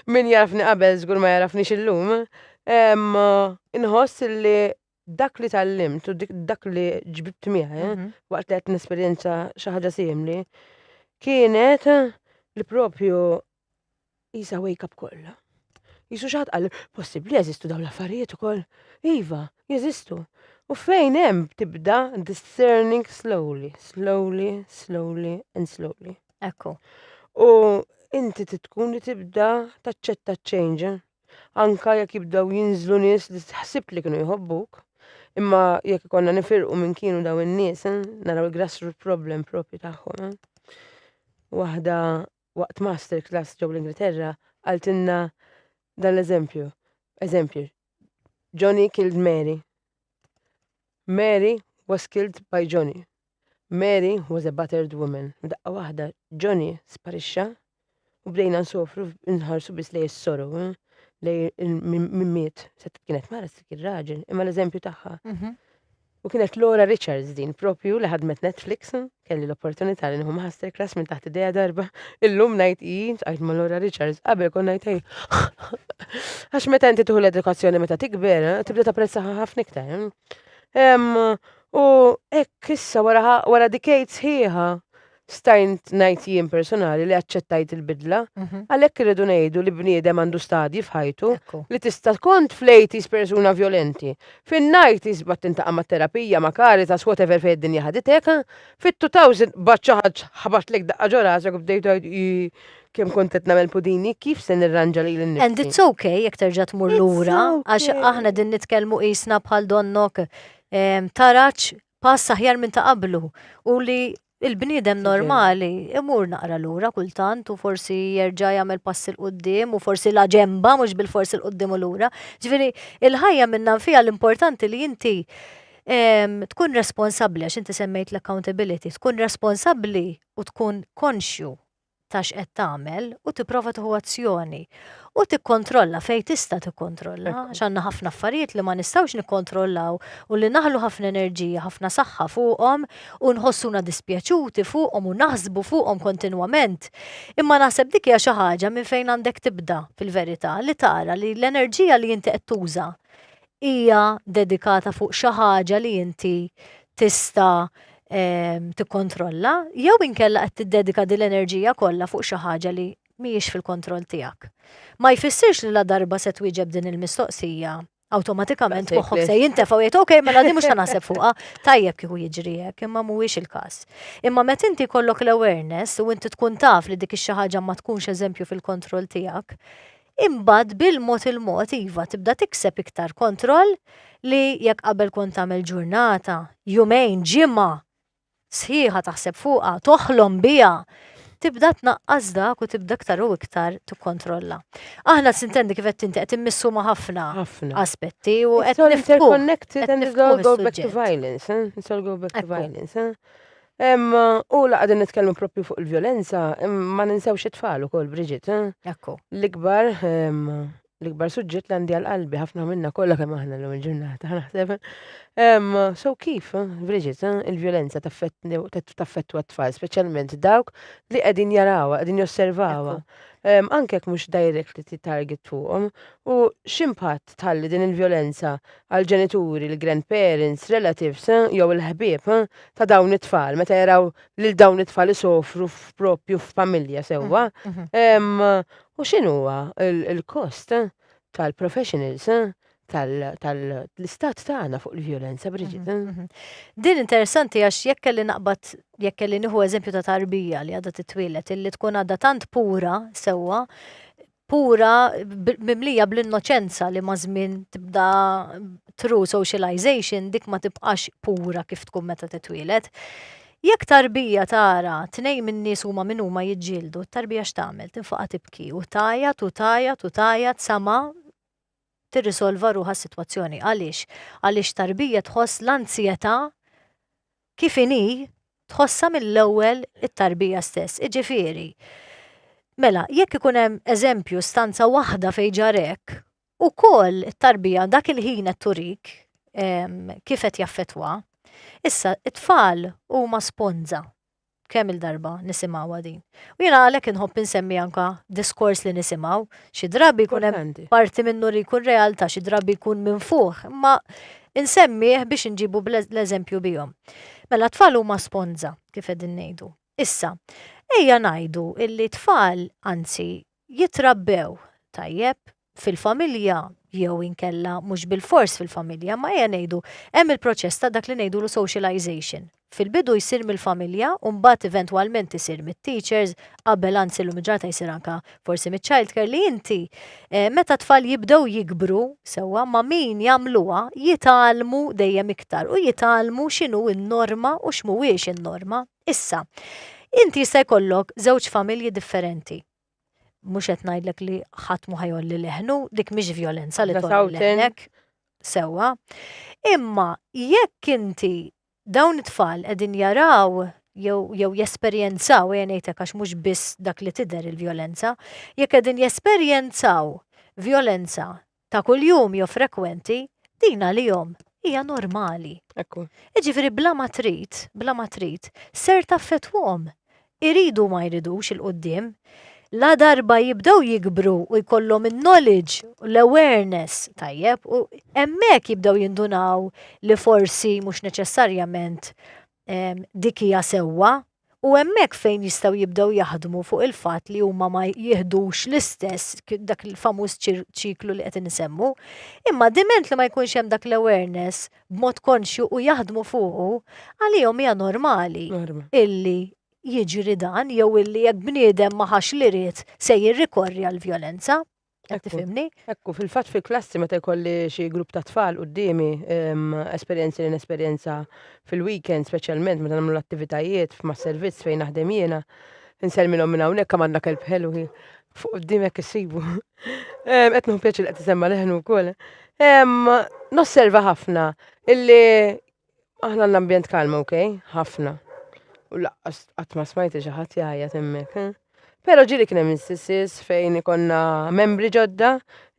min jarafni qabel żgur ma jarafni illum, Inħoss li dak li tal-limt u dak li ġbibt miegħi mhm. waqt li qed nesperjenza xi ħaġa simli kienet li propju jisa wake up kollha. Jisu xaħat għal possibli jeżistu dawn l-affarijiet ukoll. Iva, jeżistu. U fejn hemm tibda discerning slowly, slowly, slowly and slowly. Ekku. U inti titkun li tibda taċċetta change. Anka jekk jibdew jinżlu nies li ħsibt li kienu jħobbuk, imma jekk ikonna nifirqu minn kienu daw in-nies, eh, naraw il-grassroot problem propju tagħhom. Eh. Waħda waqt masterclass ġew l-Ingilterra għaltinna dan l-eżempju. Eżempju, Johnny killed Mary. Mary was killed by Johnny. Mary was a battered woman. Daqqa waħda, Johnny sparixxa u bdejna nsofru nħarsu biss lej is-soru, eh, lej min miet. Set kienet mara s kien raġel, imma l-eżempju tagħha. Mhm. U kienet Laura Richards din propju li ħadmet Netflix. Kelli l-opportunità li nieħu masterclass minn taħt idea darba. Illum ngħid hi, tqajt ma' Laura Richards, qabel kon ngħid hi. Għax meta inti tuħu l-edukazzjoni meta tikber, eh, tibda tapprezzaha ħafna iktar. Eh. U hekk issa wara decades ħieħa stajnt ngħid jien personali li aċċettajt il-bidla, mhm. għalhekk irridu ngħidu li bniedem għandu stadji f'ħajtu li tista' tkun flejtis persuna violenti, Fin-nineties bad tintaqa' mat-terapija ma' Caritas whatever fejn id-dinja ħaditek. Fit-two thousand bad xi ħadd ħabatlek daqqa ġo rasek u bdejt tgħid ii kemm kont qed nagħmel pudini, kif se nirranġa lili nnifsi? And it's ok jekk terġa' tmur lura għax aħna qegħdin nitkellmu qisna bħal donnok taraġ pass aħjar minn ta' qablu u li il-bniedem normali imur naqra lura kultant u forsi jerġa' jagħmel pass il qudiem u forsi la ġemba mhux bil-forsi l qudiem u lura. Ġifieri, il-ħajja minna nfija l-importanti li inti tkun responsabbli għax inti semmejt l-accountability, tkun responsabbli u tkun konxju ta' x'qed tagħmel u tipprova tieħu azzjoni u tikkontrolla fejn tista' tikkontrolla għax għandna ħafna affarijiet li ma nistgħux nikkontrollaw u li naħlu ħafna enerġija, ħafna saħħa fuqhom u nħossuna dispjaċuti fuqhom u naħsbu fuqhom kontinwament. Imma naħseb dik hija xi ħaġa minn fejn għandek tibda fil-verità li tara li l-enerġija li inti qed tuża hija dedikata fuq xi ħaġa li inti tista' tikkontrolla jew inkella qed tiddedika din l-enerġija kollha fuq xi ħaġa li mhijiex fil-kontroll tiegħek. Ma jfissirx li la darba se twieġeb din il-mistoqsija, awtomatikament moħħok se jintefa' u jgħid ok, mela din mhux se naħseb fuqha, tajjeb kieku jiġri hekk, imma mhuwiex il-każ. Imma meta inti jkollok l-awareness u inti tkun taf li dik ix-xi ħaġa ma tkunx eżempju fil-kontroll tiegħek, imbagħad bil-mod il-mod iva tibda tikseb iktar kontroll li jekk qabel kont tagħmel ġurnata, jumejn, ġimgħa sħiħa taħseb fuqha, toħlom biha, tibda tnaqqas dak u tibda iktar u iktar tikkontrolla. Aħna sintendi kif qed tinti qed immissu ma' ħafna aspetti u qed nifhmu. Connected and go back to violence, eh? go back to violence, eh? U la qegħdin nitkellmu propju fuq il-vjolenza, ma ninsewx it-tfal ukoll Bridget. Eh? Ekku. L-ikbar l-ikbar suġġett li għandi għal qalbi ħafna minna kollha kemm aħna l il-ġurnata naħseb. So kif, Bridget, il-vjolenza taffettwa t-tfal, speċjalment dawk li qegħdin jarawha, qegħdin josservawha. Anke jekk mhux direct li titarget fuqhom u x'impatt tħalli din il-vjolenza għall-ġenituri, il-grandparents, relatives jew il-ħbieb ta' dawn it-tfal meta jaraw lil dawn it-tfal isofru f'propju f'familja sewwa. U x'inhuwa l-kost tal-professionals tal-istat tagħna fuq il-vjolenza, Bridget. Mhm, mhm. Din interessanti għax jekk kelli naqbad jekk kelli nieħu eżempju ta' tarbija li għadha titwielet illi tkun għadha tant pura sewwa pura mimlija bl-innoċenza li maż-żmien tibda true socialization dik ma tibqax pura kif tkun meta titwieled. Jekk tarbija tara tnejn min-nies huma min huma jiġġieldu, tarbija x'tagħmel? Tinfaqa' tibki u tgħajjat u tgħajjat u tgħajjat sa ma tirrisolva ruħha s-sitwazzjoni. Għaliex? Għaliex tarbija tħoss l-anzjetà kif inhi tħossha mill-ewwel it-tarbija stess. Iġifieri, mela, jekk ikun hemm eżempju stanza waħda fejn ġar hekk, ukoll it-tarbija dak il-ħin qed turik ehm, kif qed jaffettwa. Issa, it-tfal huma sponża Kemm-il darba nisimgħuha din. U jiena għalhekk inħobb insemmi anke diskors li nisimgħu. Xi drabi jkun hemm parti minnu li jkun realtà, xi drabi jkun minfuħ, imma insemmih biex inġibu l-eżempju bihom. Mela t-tfal huma sponża, kif qegħdin ngħidu. Issa, ejja ngħidu illi t-tfal, anzi, jitrabbew tajjeb, fil-familja jew inkella mhux bil-fors fil-familja, ma ejja ngħidu hemm il-proċess ta' dak li ngħidulu socialization. Fil-bidu jsir mill-familja u mbagħad eventwalment isir mit-teachers, qabel anzi llum il-ġurnata jsir anke forsi miċ-childcare li inti eh, meta tfal jibdew jikbru sewwa ma' min jagħmluha jitgħallmu dejjem iktar u jitgħallmu x'inhu n-norma u x'mhuwiex in-norma. Issa, inti jista' jkollok żewġ familji differenti mhux qed ngħidlek li ħadd mu ħajolli leħnu, dik mhix violenza li tolli leħnek sewwa. Imma jekk inti dawn it-tfal qegħdin jaraw jew jesperjenzaw, e ngħidlek għax mhux biss dak li tidher il-violenza, jekk qegħdin jesperjenzaw violenza ta' kuljum jew frekwenti, din għalihom hija normali. Ekku. Jiġifieri bla ma trid, bla ma trid, ser taffettwahom. Iridu ma jridux il-quddiem, la darba jibdew jikbru u jkollhom in-knowledge u l-awareness tajjeb u hemmhekk jibdew jindunaw li forsi mhux neċessarjament ehm, dik hija sewwa u hemmhekk fejn jistgħu jibdew jaħdmu fuq il-fatt li huma ma jihdux l-istess dak il-famuż ċiklu li qed insemmu, imma diment li ma jkunx hemm dak l-awareness b'mod konxju u jaħdmu fuqu, għalihom hija normali illi jiġri dan jew illi jekk bniedem ma ħax li ried se jirrikorri għall-vjolenza. Qed Ekku. tifhimni? Ekku, fil-fatt fil-klassi meta jkolli xi grupp ta' tfal quddiemi, em, esperjenzi li nesperjenza fil-weekend, speċjalment meta nagħmlu l-attivitajiet ma' servizz fejn naħdem jiena, nselmilhom minn hawnhekk hemm għandna kelb ħelu hi. Fuq quddiem hekk issibu. Em, Qed nieħu pjaċir li qed isemma leħnu wkoll. Em, Nosserva ħafna illi Aħna għandna ambjent kalm, ok? Ħafna. U laqqas qatt ma smajti xi ħadd jgħajjat hemmhekk. Eh? Però ġieli kien hemm instances fejn ikonna membri ġodda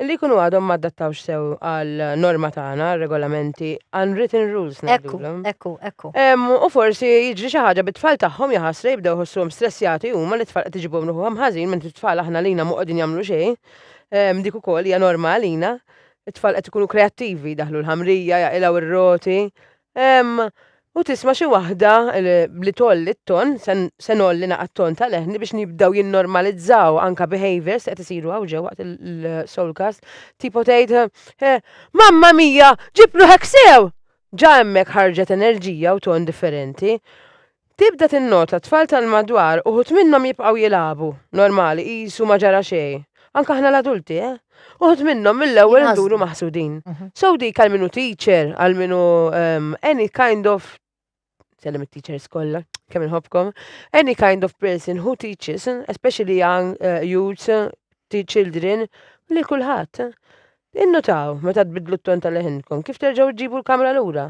li jkunu għadhom ma adattawx sew għal norma tagħna, regolamenti, unwritten rules Ekku, ngħidulhom. ekku, ekku. Em, u forsi jiġri xi ħaġa bit-tfal tagħhom jaħasra jibdew ħossuhom stressjati huma li tfal qed iġibhom ruħhom ħażin minn tfal aħna lina ma qegħdin jagħmlu xejn. Em, dik ukoll hija norma għalina. It-tfal qed ikunu kreattivi, jdaħħlu l-ħamrija, jaqilgħu r-roti. Ehm, u tisma' xi waħda li tgħolli t-ton, se ngħolli naqgħa t-ton tal-leħni biex nibdew jinnormalizzaw anka behaviors li qed isiru hawn ġew waqt il-soulcast. Tipo tgħid, eh, Mamma mia, ġib ruħek sew! Ġa hemmhekk ħarġet enerġija u ton differenti. Tibda tinnota t-tfal tal-madwar uħud minnhom jibqgħu jilagħbu, normali, qisu ma ġara xejn. Anke aħna l-adulti, eh? Uħud minnhom mill-ewwel induru maħsudin. So dik għal min hu teacher, għal min hu ehm, any kind of sellem it-teachers kollha, kemm inħobbkom, any kind of person who teaches, especially young uh, youths, children, li kulħadd. Innutaw, meta tbiddlu t-ton ta' leħinkom, kif terġgħu ġġibu l-kamra lura?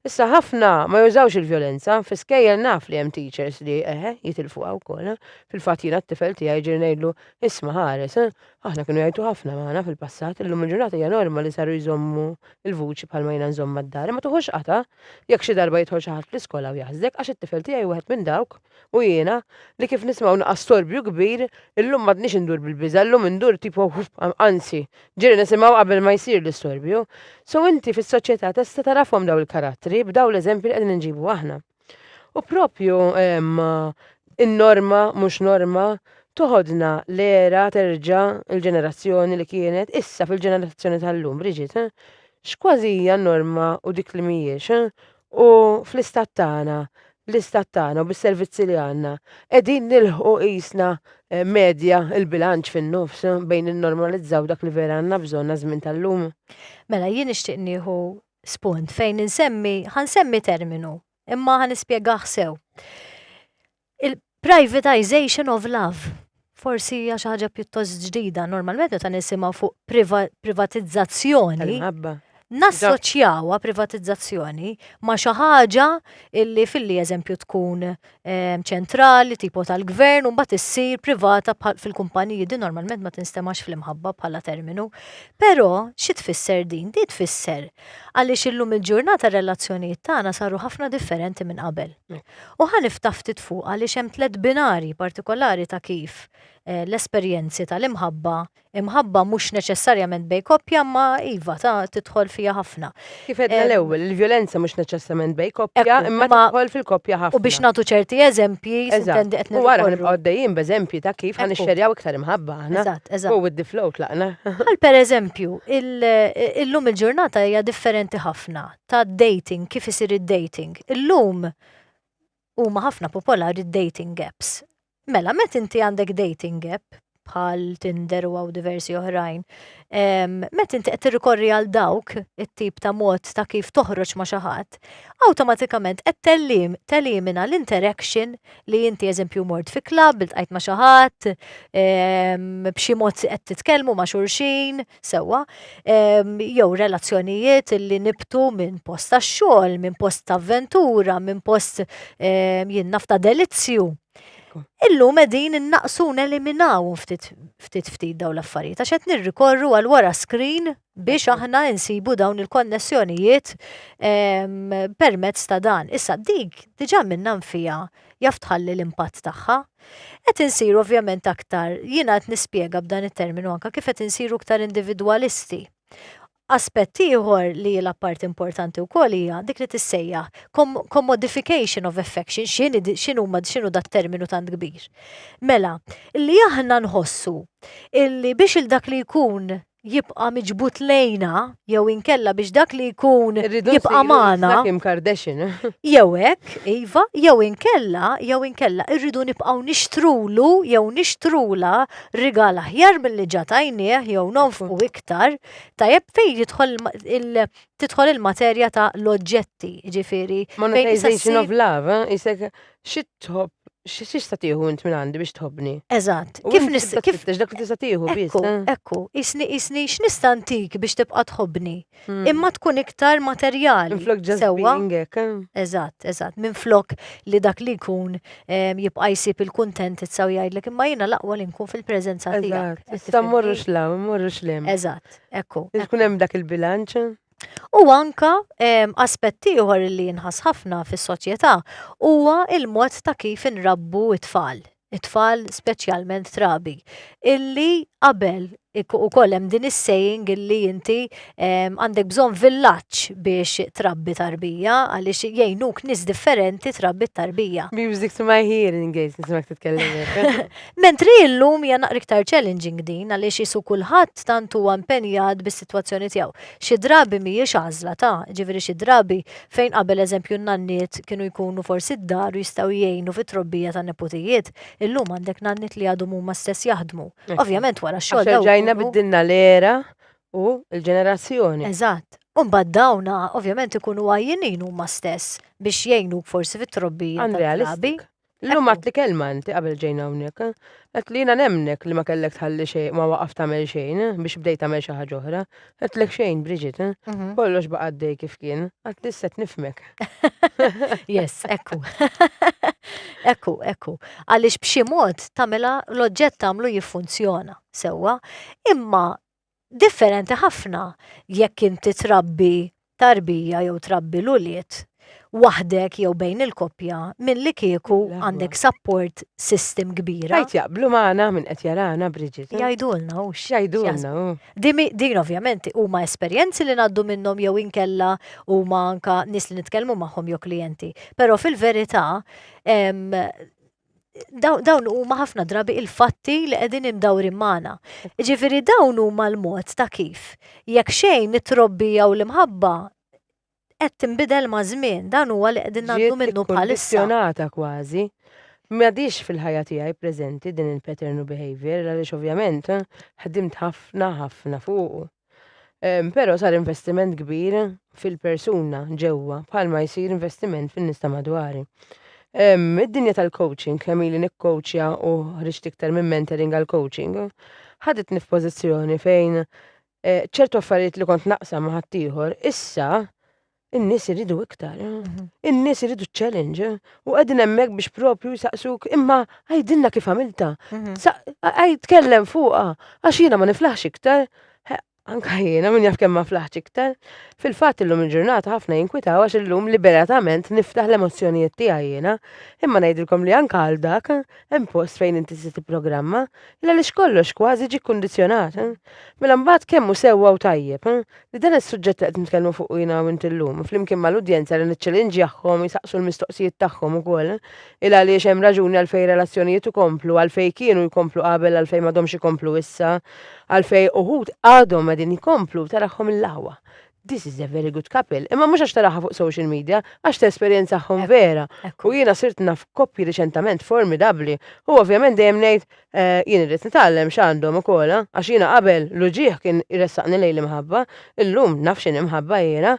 Issa ħafna ma jużawx il-vjolenza, fi skejjel naf li hemm teachers li, eħe, jitilfuha wkoll. Fil-fatt jiena t-tifel tiegħi ġieli ngħidlu, isma' ħares, aħna kienu jgħajtu ħafna magħna fil-passat, illum il-ġurnata hija norma li saru jżommu l-vuċi bħalma jiena nżommha d-dar, imma tuħux qatgħa jekk xi darba jidħol xi ħadd fl-iskola u jaħsdek, għax it-tifel tiegħi hu wieħed minn dawk. U jiena, li kif nisma' naqas storbju kbir, illum m'għadnix indur bil-biża', illum indur tipo anzi, ġieli nisimgħu qabel ma jsir l-istorbju. So inti fis-soċjetà tista' tarafhom dawn il-karattri b'dawn l-eżempji li qegħdin inġibu aħna. U proprju in-norma mhux norma toħodna l-era terġa' il-ġenerazzjoni li kienet issa fil-ġenerazzjoni tal-lum, Bridget, x'kważi hija n-norma u dik li mhijiex, u fl-istat tagħna, l-istat tagħna u bis-servizzi li għandna, qegħdin nilħqu qisna eh, medja il-bilanċ fin-nofs bejn innormalizzaw dak li vera għandna bżonn għaż-żmien tal-lum. Mela jien nixtieq nieħu spunt fejn insemmi, ħansemmi terminu, imma ħanispjegah sew. Il-privatization of love. Forsi hija xi ħaġa pjuttost ġdida. Normalment meta nisimgħu fuq privatizzazzjoni. Nassoċjawha privatizzazzjoni ma' xi ħaġa li filli eżempju tkun ehm, ċentrali, tipo tal-gvern, u mbagħad issir privata fil-kumpaniji din normalment ma tinstemax fl-imħabba bħala terminu. Però xi tfisser din? Di tfisser għaliex illum il-ġurnata relazzjonijiet tagħna saru ħafna differenti minn qabel. U ħa niftaħ ftit fuq għaliex hemm tliet binarji partikolari ta' kif l-esperjenzi tal-imħabba, imħabba mhux neċessarjament bejn koppja imma iva ta' tidħol fiha ħafna. Kif għedna l-ewwel, il-vjolenza mhux neċessarjament bejn koppja imma tidħol fil-koppja ħafna. U biex nagħtu ċerti eżempji, sintendi qed nirrekorru. U ara ħa nibqgħu għaddejjin b'eżempji ta' kif ħa nixxerjaw iktar imħabba aħna. Eżatt, eżatt. Go with the flow tlaqna. Bħal pereżempju, illum il-ġurnata hija differenti ħafna. ta' dating, kif isir id-dating. Illum huma ħafna popolari d-dating apps. Mela, met inti għandek dating app, bħal Tinder u għaw diversi oħrajn, met inti qed tirrikorri għal dawk it-tip ta' mod ta' kif toħroġ ma' xi ħadd, awtomatikament qed tellim telimina l-interaction li inti eżempju mort fi klabb, iltqajt ma' xi ħadd, b'xi mod qed titkellmu ma' xulxin, sewwa, jew relazzjonijiet li nibtu minn post ta' xogħol, minn post ta' avventura, minn post jien naf ta' delizzju. Illum qegħdin innaqsu neliminaw ftit ftit ftit daw l-affarijiet għax qed nirrikorru għal wara screen biex aħna insibu dawn il-konnessjonijiet permezz ta' dan. Issa dik diġà minna nfija jaf tħalli l-impatt tagħha. Qed insiru ovvjament aktar, jiena qed nispjega b'dan it-terminu anke kif qed insiru iktar individwalisti. Aspett ieħor li jilgħab parti importanti wkoll hija dik li tissejjaħ commodification of affection, x'inhuma x'inhu dat terminu tant kbir. Mela, li aħna nħossu illi biex il dak li jkun jibqa' miġbud lejna jew inkella biex dak li jkun jibqa' magħna. Kim Kardashian. Jew hekk, iva, jew inkella, jew inkella irridu nibqgħu nixtrulu jew nixtrula rigal aħjar milli ġa tajnieh jew nonfqu iktar, tajjeb fejn jidħol il- tidħol il-materja ta' l-oġġetti, ġifieri. Monetization of love, eh? isek Xi tħobb, xi tista' tieħu int minn għandi biex tħobbni? Eżatt. U Kif int nis tibda kif tfittex dak li tista' tieħu biss. Ekku, eh? ekku, isni isni x'nista' ntik biex tibqa' tħobbni. Hmm. Imma tkun iktar materjali. Minflok just sewwa? being hekk, eh? Eżatt, eżatt. Minn flok li dak li jkun em, jibqa' jsib il-kuntentizza u jgħidlek imma jiena l-aqwa li nkun fil-preżenza tiegħek. Eżatt. Issa mmorrux law, mmorrux lem. Eżatt, ekku. Tkun hemm dak il-bilanċ. U anka ehm, aspett ieħor li jinħass ħafna fis-soċjetà huwa il-mod ta' kif inrabbu t-tfal, it-tfal speċjalment trabi, illi qabel ukoll hemm din is-saying illi inti ehm, għandek bżonn villaġġ biex trabbi tarbija għaliex jgħinuk nies differenti trabbi t-tarbija. Music to my hearing gates, nismak titkellem. Mentri illum hija naqra iktar challenging din għaliex qisu kulħadd tant huwa impenjat bis-sitwazzjoni tiegħu. Xi drabi mhijiex għażla ta', jiġifieri xi drabi fejn qabel eżempju n-nanniet kienu jkunu forsi d-dar u jistgħu jgħinu fit-trobbija tan-neputijiet, illum għandek nanniet li għadhom huma stess jaħdmu. Ovvjament wara x-xogħol dawk ikunu. Għax erġajna biddilna l-era u l-ġenerazzjoni. Eżatt. U mbagħad dawn ovvjament ikunu għajjinin huma stess biex jgħinuk forsi fit-trobbija tal-klabi. Illum għat li kelma inti qabel ġejna hawnhekk. Qed li jiena nemnek li ma kellek tħalli xejn ma waqaf tagħmel xejn biex bdejt tagħmel xi ħaġa oħra. Għedtlek xejn, Bridget. Mhm. Kollox baqa' għaddej kif kien. Għad li set nifmek. yes, ekku. ekku, ekku. Għaliex b'xi mod tagħmilha l-oġġett tagħmlu jiffunzjona sewwa, imma Differenti ħafna jekk inti trabbi tarbija jew trabbi l-ulied waħdek jew bejn il-koppja milli kieku għandek support system kbira. Għid jaqblu magħna min qed jarana Bridget. Jgħidulna hu x'jaħsbu. Din ovvjament huma esperjenzi li ngħaddu minnhom jew inkella huma anka nies li nitkellmu magħhom jew klijenti. Però fil-verità dawn huma ħafna drabi il-fatti li qegħdin imdawrin magħna. Ġifieri dawn huma l-mod ta' kif jekk xejn it-trobbi jew l-imħabba qed tinbidel ma' żmien, dan huwa li qegħdin nagħmlu minnu bħalissa. Ġiet kważi. M'għadix fil-ħajja tiegħi preżenti din il-pattern u behavior għaliex ovvjament ħdimt ħafna ħafna fuq. Però sar investiment kbir fil-persuna ġewwa bħalma jsir investiment fin-nies ta' madwari. Id-dinja tal-coaching kemm ili nikkoċja u ħriġt iktar minn mentoring għal coaching, ħaditni f'pożizzjoni fejn eh, ċertu affarijiet li kont naqsam ma' ħaddieħor, issa In-nies iridu iktar, in-nies iridu challenge u qegħdin hemmhekk biex propju jsaqsuk imma għajdilna kif għamilta. Għaj tkellem fuqha għax jiena ma niflaħx iktar. Anka jiena minn jaf kemm ma flaħx iktar. Fil-fatt illum il-ġurnata ħafna jinkwitaw għax illum liberatament niftaħ l-emozzjonijiet tiegħi jiena. Imma ngħidilkom li anka għal dak hemm post fejn inti se tipprogramma illa li kollox kważi ġi kkundizzjonat. Mela mbagħad kemm hu sewwa u tajjeb. Li dan is-suġġett li qed nitkellmu fuqu jiena hawnint illum, flimkien mal-udjenza li niċċelinġjahom jsaqsu l-mistoqsijiet tagħhom ukoll, il għaliex hemm raġuni għalfejn relazzjonijiet ikomplu, għalfejn kienu jkomplu qabel għalfejn m'għadhomx ikomplu issa, għalfejn uħud għadhom qegħdin jkomplu, tarahom il-lagħwa. This is a very good couple. Imma mhux għax taraha fuq social media, għax tesperjenzahom vera. U jiena sirt naf koppji riċentament formidabbli. U ovvjament dejjem ngħid, Eh, jien irrid nitgħallem x'għandhom ukoll, eh? għax jiena qabel l-uġieħ kien iressaqni lejn l-imħabba, illum naf x'inhi mħabba jiena.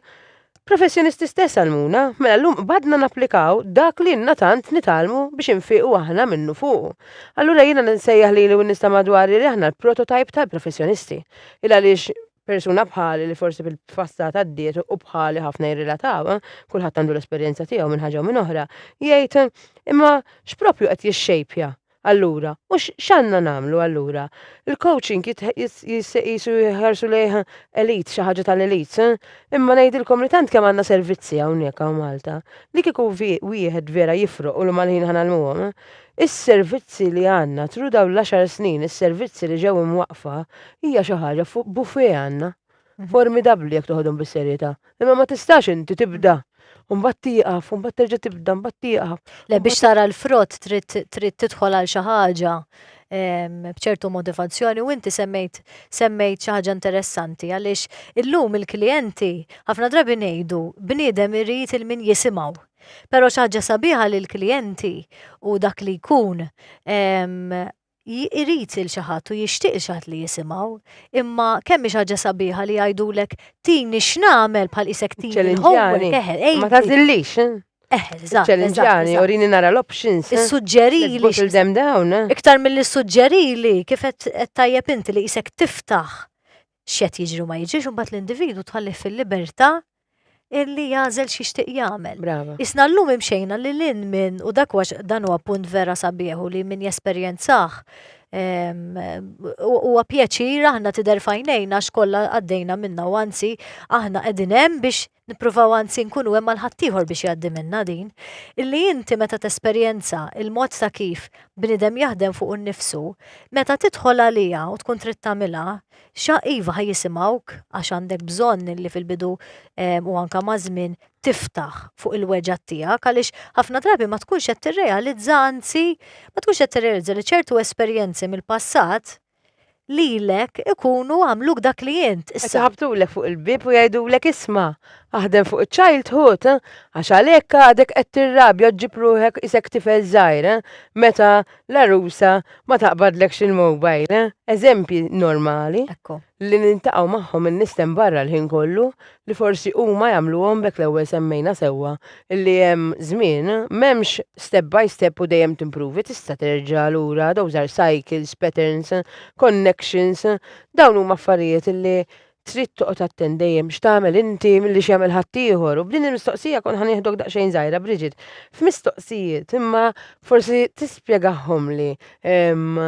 Professjonisti stess għalmuna, mela llum qbadna napplikaw dak li inna tant nitgħallmu biex infiqu aħna minnu fuqu. Allura jiena nsejjaħ li u nista' madwari li aħna l-prototajp tal-professjonisti. Il għaliex persuna bħali li forsi fil-passat għaddiet u bħali ħafna jirrilataw, eh? kulħadd għandu l-esperjenza tiegħu minn ħaġa u minn oħra, jgħid imma x'propju qed jixxejpja Allura, u x'għandna nagħmlu allura? Il-coaching qisu jħarsu lejh elite, xi ħaġa tal-elites, eh? Imma ngħidilkom li tant kemm għandna servizzi hawnhekk hawn Malta, li kieku wieħed vera jifroq u li mal-ħin ħa nagħlmuhom, is-servizzi li għandna through dawn l-għaxar snin, is-servizzi li ġew imwaqqfa, hija xi ħaġa fuq buffet għandna. formidabbli jekk toħodhom bis-serjetà. Imma ma tistax inti tibda u mbagħad tieqaf, u mbagħad terġa' tibda, mbagħad tieqaf. Le biex tara l-frott trid trid tidħol għal xi ħaġa em, b'ċertu motivazzjoni u inti semmejt semmejt xi ħaġa interessanti għaliex illum il-klijenti ħafna drabi ngħidu bniedem irid il-min jisimgħu. Però xi ħaġa sabiħa li l-klijenti u dak li jkun em, irid lil xi ħadd u jixtieq lil xi ħadd li jisimgħu. Imma kemm hi xi ħaġa sabiħa li jgħidulek tini x'nagħmel bħal qisek tini l-homework eħel. Ma tagħżillix. Eħel, żgħar. Ċellinġjani, urini nara l-options. Issuġġerili. Iktar mill-issuġġerili kif qed tajjeb inti li qisek tiftaħ x'qed jiġri u ma jiġrix, imbagħad l-individwu tħallih fil-libertà illi jagħżel xi xtieq jagħmel. Brava. Isna llum imxejna li lin minn u dak wax dan huwa punt vera sabiħu li min jesperjenzah huwa pjaċir aħna tidher fajnejna x'kollha għaddejna minna u anzi aħna qegħdin hemm biex Nippruvaw anzi nkunu hemm għal ħaddieħor biex jgħaddi minnha din, illi inti meta tesperjenza il-mod ta' kif bniedem jaħdem fuqu nnifsu, meta tidħol għaliha u tkun trid tagħmilha, xa iva ħa jisimgħuk għax għandek bżonn illi fil-bidu ehm, u anka maż-żmien tiftaħ fuq il-weġgħat tiegħek għaliex ħafna drabi ma tkunx qed tirrealizza anzi ma tkunx qed tirrealizza li ċertu esperjenzi mill-passat lilek ikunu għamluk dak li int Qed issa. iħabbtulek fuq il-bieb u jgħidulek isma', aħdem fuq iċ-childhood, eh, għax għalhekk għadek qed tirrabja u ġġib ruħek qisek tifel żgħir, eh, meta l-għarusa ma taqbadlekx il-mobile, eh. Eżempji normali Ekku. li niltaqgħu magħhom in-nies t'hemm barra l-ħin kollu, li forsi huma jagħmluhom b'hekk l-ewwel semmejna sewwa li hemm żmien m'hemmx step by step u dejjem timpruvi tista' terġa' lura those are cycles, patterns, connections dawn huma affarijiet li trid toqgħod attent dejjem x'tagħmel inti milli x'jagħmel ħaddieħor u b'din il-mistoqsija kont ħa nieħdok daqsxejn żgħira Bridget f'mistoqsijiet imma forsi tispjegahomli ehm,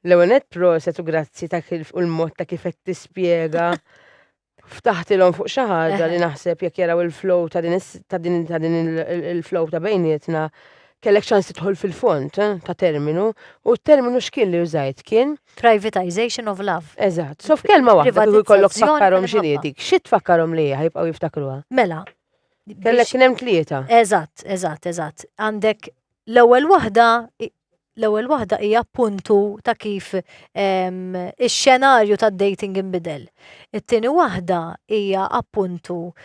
l-ewwel nett proset u grazzi ta' kif u l-mod ta' kif qed tispjega Ftaħtilhom fuq xi ħaġa li naħseb jekk jaraw il-flow ta' din ta' din ta' din il-flow ta' bejnietna kellek ċans tidħol fil-font eh, ta' terminu u t-terminu x'kien li użajt kien Privatization of love. Eżatt. So f'kelma waħda kieku jkollok tfakkarhom x'inhi dik, xi tfakkarhom li hija jibqgħu jiftakruha? Mela. Kellek kien hemm tlieta. Eżatt, eżatt, eżatt. Għandek l-ewwel waħda L-ewwel waħda hija appuntu ta' kif ix-xenarju tad-dating inbidel. It-tieni waħda hija appuntu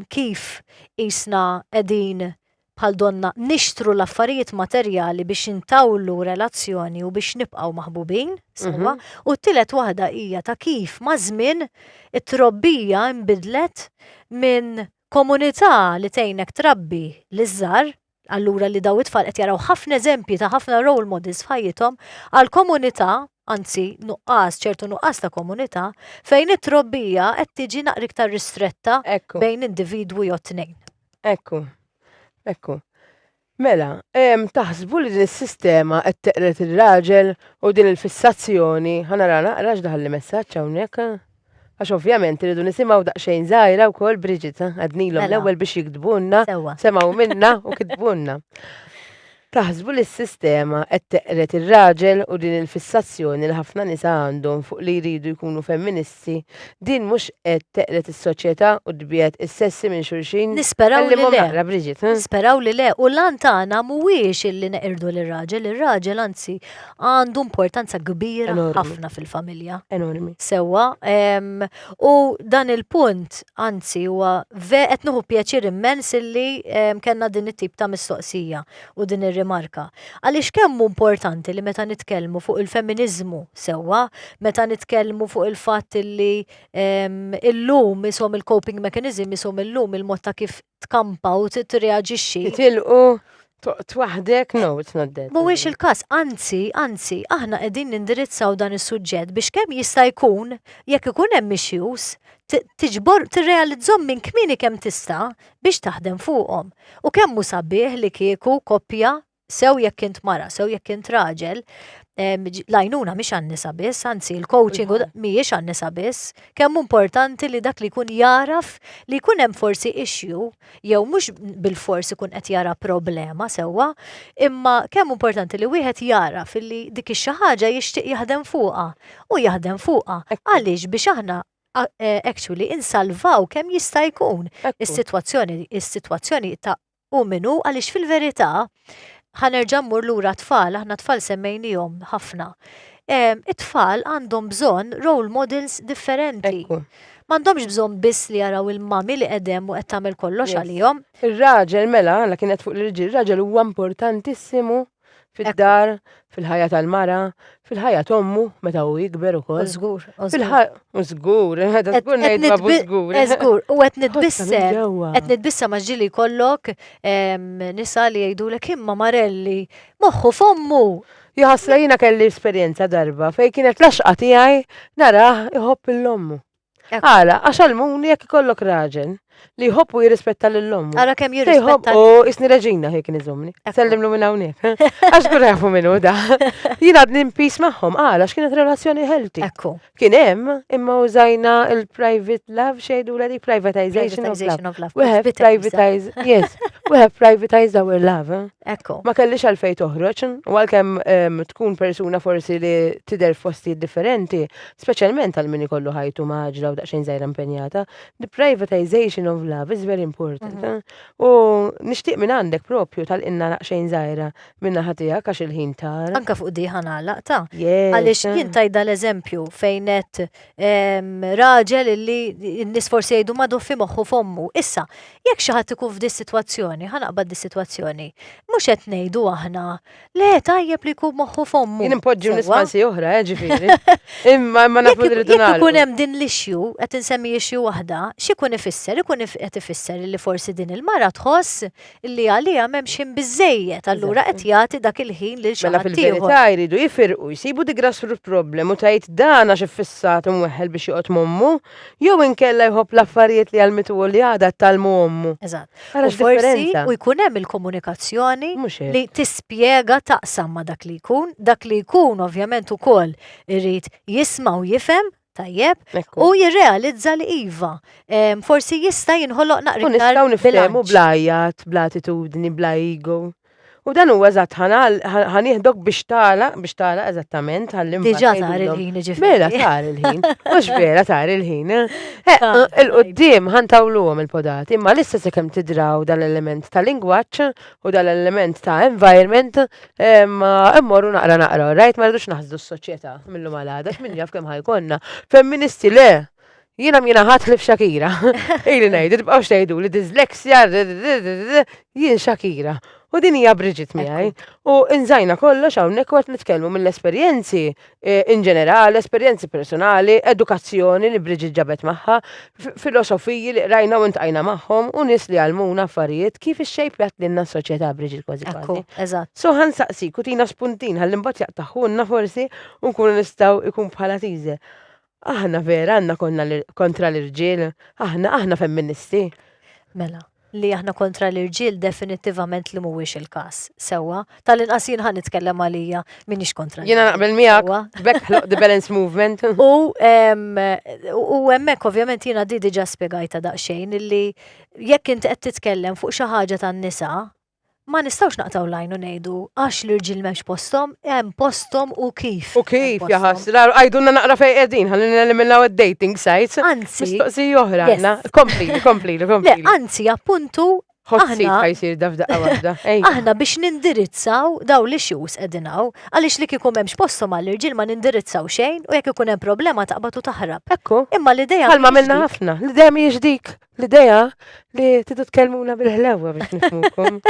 kif isna qegħdin bħal donna nixtru l-affarijiet materjali biex intawlu relazzjoni u biex nibqgħu maħbubin sewwa. U t-tielet waħda hija ta' kif maż-żmien it-trobbija nbidlet minn komunità li tgħinek trabbi liż-żgħar, Allura li daw it-tfal qed jaraw ħafna eżempji ta' ħafna role models f'ħajjithom għal komunità, anzi nuqqas, ċertu nuqqas ta' komunità, fejn it-trobbija qed tiġi naqra iktar ristretta bejn individwu jew tnejn. Ekku, ekku. Mela, taħsbu li din is-sistema qed teqred ir-raġel u din il-fissazzjoni, ħanara naqra x'daħal li messaġġ hawnhekk. Għax ovvjament irridu nisimgħu daqsxejn żgħira wkoll Bridget, ha? Għadnilhom Mela. l-ewwel biex jiktbulna, Sewwa. semgħu minna u kitbulna. Taħsbu li s-sistema qed teqred ir-raġel u din il-fissazzjoni li ħafna nisa għandhom fuq li jridu jkunu femministi, din mhux qed teqred is-soċjetà u tbiegħed is-sessi minn xulxin? Nisperaw li Għallimhom le. naqra, Bridget, ha? Nisperaw li le, u l-għan tagħna mhuwiex illi neqirdu lir-raġel, ir-raġel anzi għandu importanza kbira ħafna fil-familja. Enormi. Sewa, u dan il-punt, anzi, huwa ve qed nuħu pjaċir immens illi kellna din it-tip ta' mistoqsija u din ir-rimarka. Għaliex kemm importanti li meta nitkellmu fuq il-feminiżmu sewwa, meta nitkellmu fuq il-fatt illi illum isom il-coping mechanism isom illum il-mod ta' kif tkampa u tirreaġixxi. Tilqu Toqt waħdek, no, it's not that. Mhuwiex il-każ, anzi, anzi, aħna qegħdin nindirizzaw dan is-suġġett biex kemm jista' jkun, jekk ikun hemm issues, tiġbor tirrealizzhom minn kmieni kemm tista' biex taħdem fuqhom. U kemm hu sabiħ li kieku koppja, sew jekk int mara, sew jekk int raġel, l-għajnuna mhix għan-nisa biss, anzi l-coaching mhijiex għan-nisa biss, kemm importanti li dak li jkun jaraf li jkun hemm forsi issue jew mhux bilfors ikun qed jara problema sewwa, imma kemm importanti li wieħed jagħraf illi dik ix-xi ħaġa jixtieq jaħdem fuqha u jaħdem fuqha. Għaliex biex aħna actually insalvaw kemm jista' jkun is-sitwazzjoni is-sitwazzjoni ta' hu min hu għaliex fil-verità Ħa nerġa' mmur lura t-tfal, aħna t-tfal semmejniehom ħafna. It-tfal għandhom bżonn role models differenti. M'għandhomx bżonn biss li jaraw il-mami li qegħdem u qed tagħmel kollox għalihom. Ir-raġel mela, għandha kienet fuq l-irġiel, ir-raġel huwa importantissimu fid-dar, fil-ħajja tal-mara, Fil-ħajja tommu, meta u jikber u koll. Zgur, zgur. Zgur, għada zgur nejt babu zgur. Zgur, u għet nitbissa, għet nitbissa maġġili kollok nisa li jgħidu l imma marelli, moħħu fommu. Jħasla jina kelli esperienza darba fej kienet laxqa tijaj naraħ iħobb l-lommu. Għala, għax għalmuni jekk ikollok raġel li jħobb u jirrispetta lil ommu. Għala kemm jirrispetta. U isni reġina ħek nizomni. Sellimlu minn hawnhekk. Għax kun jafu minnu da. Jien għadni mpis magħhom, għala x'kienet relazzjoni healthy. Ekku. Kien hemm imma użajna il-private love xejdu l privatization of love. We have privatize, yes, we have privatized our love. Eh? Ekku. Ma kellix għalfej toħroġ, u għalkemm ehm, tkun persuna forsi li tidher fosti differenti, Speċjalment għal min ikollu ħajtu maġla u daqsxejn żgħira impenjata, the privatization of love is very important. Mhm. Eh? U nixtieq minn għandek propju tal-inna daqsxejn żgħira minna ħatija għax il-ħin tar. Anka fuq di ħana laqta. Għaliex jien tajda l-eżempju fejn qed ehm, raġel li n-nies forsi jgħidu madu fi moħħu fommu. Issa, jekk xi ħadd ikun f'di sitwazzjoni, ħanaqbad di sitwazzjoni, mhux qed ngħidu aħna Le, tajjeb li jkun moħħu fommu. Jien impoġġu nispansi oħra, eh, ġifiri. Imma ma nafu li rridu nagħmlu. Ikun hemm din l-issue, qed insemmi issue waħda, x'ikun ifisser? Ikun qed ifisser li forsi din il-mara tħoss li għalija m'hemmx ħin biżejjed, allura qed jagħti dak il-ħin lil xi Mela fil-verità jridu jifirqu jsibu di grassroot problem u tgħid dana xi fissat imweħħel biex joqgħod mommu, jew inkella jħobb l-affarijiet li għalmitu li għadha tal-mu ommu. Eżatt. Ara U forsi x'differenza. u jkun hemm il-komunikazzjoni Mhux hekk. li tispjega taqsam ma' dak li jkun, dak li jkun ovvjament ukoll irid jisma' u jifhem, tajjeb, Ekku. u jirrealizza li iva, em, forsi jista' jinħoloq U naqra iktar nistgħu niftehmu bilanċ. bla għajat, bla attitudni, bla ego. U dan huwa eżatt ħanieħdok biex tala, biex tala eżattament ħallim. Diġà tar il-ħin ġifieri. Mela tar il-ħin, mhux vera tar il-ħin. Eh? Eh, eh, il-qudiem ħantawluhom il-podati, imma lissa se kemm tidraw dal-element ta' lingwaġġ u dal-element ta' environment immorru naqra naqra, rajt ma rridux naħżu s-soċjetà mill-lum għal minn jaf kemm ħajkonna. Femministi le, Jiena mina ħadd li f'Shakira. Ili ngħid, tibqgħux tgħidu li dyslexia, jien Shakira. U din hija Bridget miegħi. U nżajna kollox hawnhekk waqt nitkellmu mill-esperjenzi eh, in ġenerali, esperjenzi personali, edukazzjoni li Bridget ġabet magħha, filosofiji li qrajna u ntqajna magħhom u nies li għalmuna affarijiet kif ix-xejp jgħat lilna s-soċjetà Bridget kważi kważi. Eżatt. So ħan saqsi kutina spuntin ħalli mbagħad jaqtaħunna forsi u nkunu nistgħu ikun bħala tiżel. Aħna vera għandna konna kontra l-irġiel, aħna aħna femministi. Mela, li aħna kontra l-irġiel definittivament li mhuwiex il-każ. Sewwa, tal-inqas jien ħa nitkellem għalija m'iniex kontra. Jiena naqbel miegħek, bekk ħloq the balance movement. U hemmhekk ovvjament jiena di diġà spjegajta daqsxejn illi jekk int qed titkellem fuq xi ħaġa tan-nisa, Ma nistgħux naqtgħu l-għajn u ngħidu għax l-irġiel m'hemmx posthom, hemm posthom u kif. U kif jaħas, għajdunna naqra fejn qegħdin, ħalli neliminaw id-dating sites. Anzi. Mistoqsi oħra għandna. Kompli, kompli, kompli. Anzi, appuntu. Ħossi ħajsir dafda għawda. Aħna biex nindirizzaw daw li xus edinaw, għalix li kikum hemmx posthom għall-irġiel ma nindirizzaw xejn u jekk ikun hemm problema taqbatu taħrab. Ekku. Imma l-idea. Għalma minna ħafna, l-idea mhijiex dik. L-ideja li tidu tkellmuna bil-ħlewwa biex nifmukom.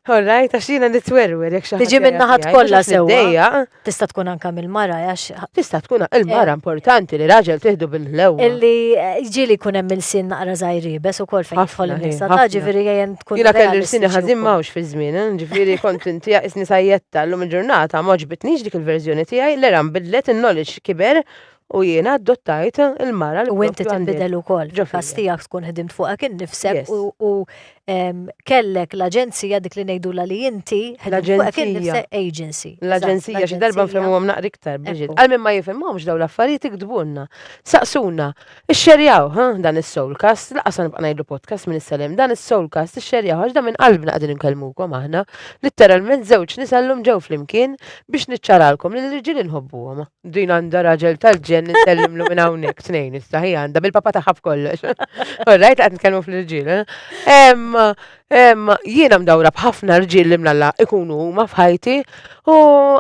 Alright, għax jiena nitwerwer jekk xaħat. Tiġi minna ħat kollha sewwa. Tista' tkun anka mill-mara għax. Tista' tkun il-mara eh. importanti li raġel tieħdu bil-ħlewwa. Illi eh, ġieli jkun hemm il-sin naqra żgħiribes ukoll fejn jidħol nisa. Ta' ġifieri jgħin tkun. Jiena kelli l-sin ħażin mawx fi żmien, eh, ġifieri kont inti isni sajjetta llum il-ġurnata ma ġbitniex dik il-verżjoni tiegħi l-eram bidlet in-knowledge kiber U jiena adottajt il-mara li U inti propju għandi. tinbidel ukoll. Ġo Fil-każ fija. tiegħek tkun ħdimt fuqek innifsek Yes. u u em, kellek l-aġenzija dik li ngħidulha li inti ħdimt fuqek L-aġenzija. innifsek agency. eżatt, L-aġenzija xi darba l-aġenzija. nfehmuhom naqra iktar, Bridget. Ekku. Għal min ma jifhimhomx dawn l-affarijiet iktbulna. Saqsuna. Ixxerjaw, ħa, dan is-Soulcast. Lanqas ħa nibqa' ngħidlu podcast minn issa 'l hemm. Dan is-Soulcast ixxerjaw għax dan minn qalbna qegħdin inkellmukom aħna. Litteralment żewġ nisa llum ġew flimkien biex niċċaralkom li l-irġiel inħobbuhom. Din għandha raġel tal-ġen nsellimlu minn hawnhekk tnejn issa ħi għandha bil-papa tagħha b'kollox. Orrajt qed nitkellmu fl-irġiel. Eh? Jiena mdawra b'ħafna rġiel li mlalla ikunu huma f'ħajti u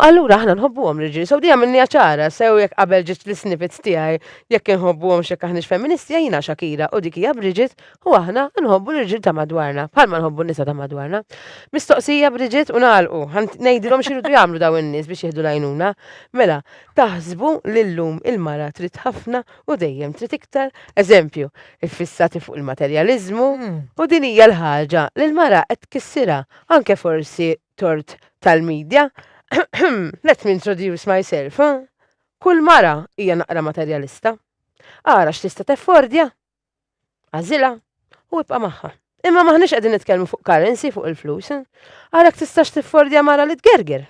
allura aħna nħobbuhom l-irġiel. Sew dejjem minni ċara, sew jekk qabel ġiet l-snippets tiegħi jekk inħobbuhom x'jekk aħniex feministi jiena Shakira u dik hija Bridget U aħna nħobbu l-irġiel ta' madwarna, bħalma nħobbu n-nisa ta' madwarna. Mistoqsija Bridget u nagħlqu, ngħidilhom x'iridu jagħmlu daw in-nies biex jieħdu l-għajnuna. Mela, taħsbu li llum il-mara trid ħafna u dejjem trid iktar, eżempju, iffissati fuq il-materjaliżmu, u din hija l-ħaġa li l-mara qed tkissirha, anke forsi tort tal-media, let me introduce myself, kull mara hija naqra materjalista. Ara x'tista' teffordja, Għażilha u ibqa' magħha. Imma maħniex qegħdin nitkellmu fuq currency fuq il-flus. Għalhekk tistax tiffordja mara li tgerger.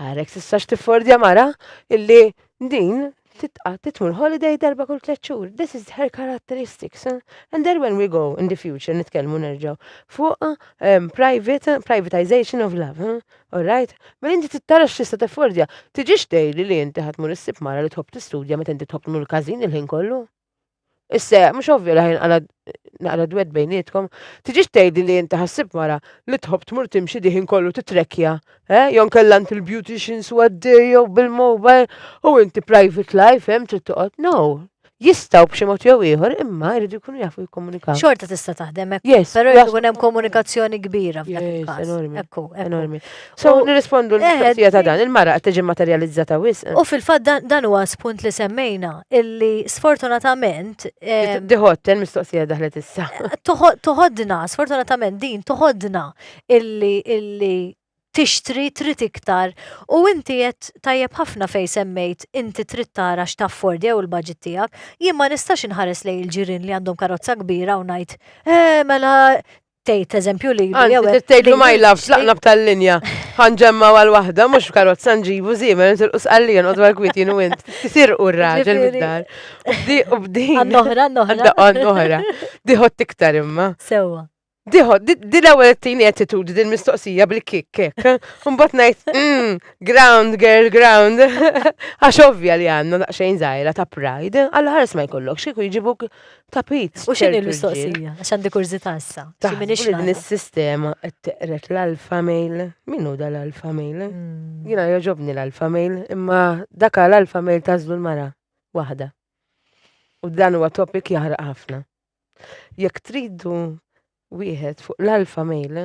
Għalhekk tistax tiffordja mara illi din titqa' titmur holiday darba kull tliet xhur. This is her characteristics. And then when we go in the future nitkellmu nerġgħu fuq um, private privatization of love. Huh? All right? Ma mela inti tittara x'tista' tiffordja. Tiġix tgħidli li inti ħadd mur issib mara li tħobb tistudja meta inti tħobb tmur każin il-ħin kollu. Issa, mhux ovvja li ħajn naqra dwed bejnietkom, tiġix tgħidli li inti ħassib mara li tħobb tmur timxi diħin kollu titrekkja, eh? Jew nkella int il-beautician swaddir jew bil-mobile u inti private life, hemm trid toqgħod. No, jistaw b'xi mod jew ieħor imma jridu jkunu jafu jikkomunikaw. Xorta tista' taħdem hekk. Yes. Però jkun hemm komunikazzjoni kbira f'dak il-każ. Enormi. Ekku, enormi. So, nirrispondu l-mistoqsija ta' dan, il-mara qed tiġi materializzata wisq. U fil-fatt dan huwa spunt li semmejna, illi sfortunatament. Eh, Diħott, il-mistoqsija daħlet issa. Toħodna, sfortunatament din toħodna illi illi tixtri trid iktar u inti qed tajjeb ħafna fej semmejt inti trid tara x'tafford jew il-budget tiegħek, jien ma nistax inħares lej il-ġirien li għandhom karozza kbira u ngħid, eh mela tgħid eżempju li jew trid tgħidlu ma jlafx laqna b'tal-linja. Ħanġemma għal waħda mhux f'karozza nġibu żiemel intilqu sqallija noqgħod għal kwiet jien u int. Tisirqu r-raġel mid-dar. U b'din. Għannoħra, għannoħra. Għannoħra. Diħod tiktar imma. Sewwa. Diħod, di l-ewwel tini attitudi din mistoqsija bil-kik kik. Mbagħad ngħid mm, ground girl ground. Għax ovvja li għandna daqsxejn żgħira ta' pride, għal ħares ma jkollok xi jġibuk tapit. U x'inhi l-mistoqsija? Għax għandi kurżità issa. Ta' din is-sistema qed teqret l-alfa mail. Min hu dal-alfa mail? Hmm. Jiena jogħġobni l-alfa mail, imma dak l-alfa mail tażlu l-mara waħda. U dan huwa topik jaħraq ħafna. Jekk tridu wieħed fuq l-alpha male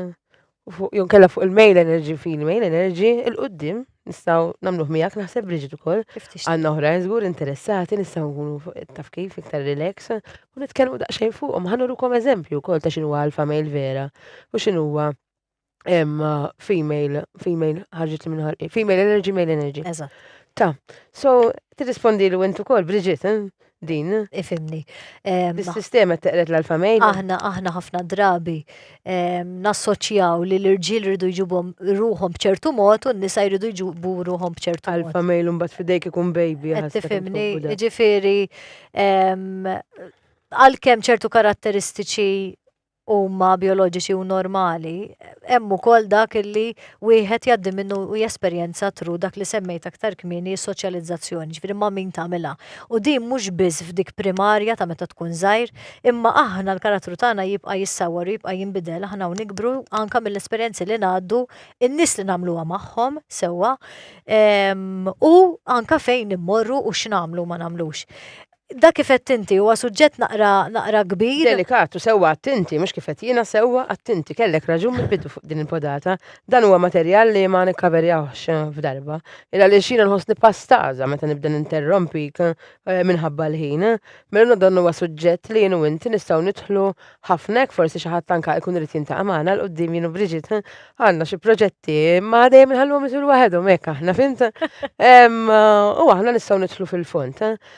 u fuq jew kella fuq il-male energy fil-male energy il-qoddim nistgħu nagħmluh miegħek naħseb Bridget ukoll. Għandna oħra żgur interessati nistgħu nkunu taf kif iktar relax u nitkellmu daqsxejn fuqhom ħanurukom eżempju wkoll ta' x'inhu alpha male vera u x'inhuwa em, uh, female, female, ħarġet minn ħarqi, female energy, male energy. Eżatt. Ta, so, tirrispondi li wentu kol, Bridget, eh? din, Ifimni. Em, dis-sistema teqret l-alfa male. aħna aħna ħafna drabi em, nassoċjaw li l-irġiel rridu jġibhom ruhom b'ċertu mod u n-nisa jridu jġibu ruhom b'ċertu mod. Alfa male un bat fidejk ikun baby. Qed ħassek tifhimni, inkopu da. ġifiri, em, għalkemm ċertu karatteristiċi huma bijoloġiċi u normali, hemm ukoll dak li wieħed jgħaddi minnu u jesperjenza tru dak li semmejt aktar kmieni is-soċjalizzazzjoni, ġifieri ma' min tagħmilha. U din mhux biss f'dik primarja ta' meta tkun żgħir, imma aħna l-karattru tagħna jibqa' jissawwar u jibqa' jinbidel, aħna u nikbru anke mill-esperjenzi li ngħaddu, in-nies li nagħmluha magħhom, sewwa, u anke fejn immorru u x'nagħmlu u ma nagħmlux. Dak kif għedt inti, huwa suġġett naqra, naqra kbir. Delikat, u sewwa għadt inti, mhux kif għedt jiena, sewwa għadt inti, kellek raġun mill-bidu fuq din il-podata. Dan huwa materjal li ma nikkaverjawhx f'darba. Il għaliex jiena nħossni pastaża meta nibda ninterrompik eh, minħabba l-ħin. Mela dan huwa suġġett li jien u inti nistgħu nidħlu ħafna hekk forsi xi ħadd anke jkun irid jintaqa' magħna l qudiem jien u Briġit eh, għandna xi proġetti ma dejjem inħalluhom isir waħedhom hekk aħna fint. U aħna nistgħu nidħlu fil-fond. Eh.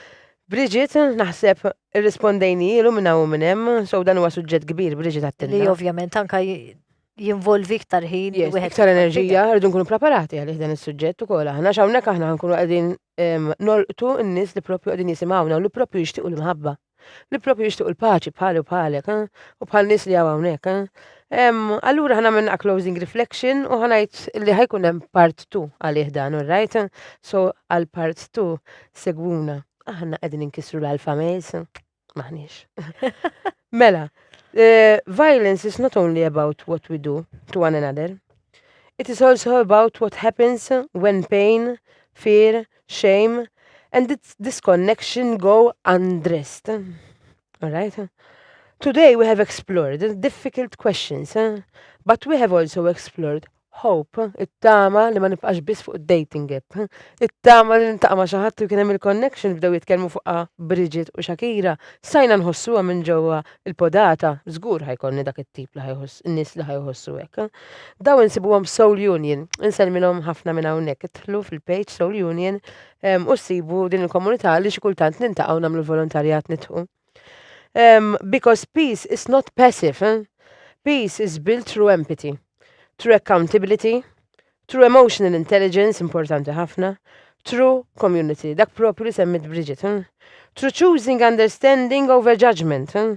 Bridget, naħseb irrispondejnijielu minn hawn u minn hemm, so dan huwa suġġett kbir Bridget għattilna. Li ovvjament anka jinvolvi iktar ħin. Iktar enerġija, rridu nkunu preparati għalih dan is-suġġett ukoll aħna x'hawnhekk aħna nkunu qegħdin nolqtu n-nies li propju qegħdin jisimgħuna u li propju jixtiequ l-imħabba. Li propju jixtiequ l-paċi bħali u bħalek u bħal nies li hawn hawnhekk. Allura ħana minna closing reflection u ħanajt li ħajkun hemm part 2 għalih dan, right? So għal part 2 segwuna. Aħna qegħdin inkisru l-alfa mejs. Maħniex. mela, uh, violence is not only about what we do to one another. It is also about what happens when pain, fear, shame and this disconnection go undressed. All right? Today we have explored difficult questions, eh? but we have also explored hope, it-tama li ma nibqax biss fuq dating app, it-tama li nintaqma ma' xi ħadd u kien hemm il-connection bdew jitkellmu fuqha Bridget u Shakira, sajna nħossuha minn ġewwa il-podata, żgur ħajkolni dak it-tip li ħajħoss nies li ħajħossu hekk. Daw insibuhom Soul Union, insellmilhom ħafna minn hawnhekk, idħlu fil-page Soul Union u ssibu din il-komunità li xi kultant nintaqgħu nagħmlu l-volontarjat nitħu. Um, because peace is not passive. Eh? Peace is built through empathy, through accountability, through emotional intelligence, importanti ħafna, through community, dak propju li semmit Bridget. Eh? Through choosing understanding over judgment. Eh?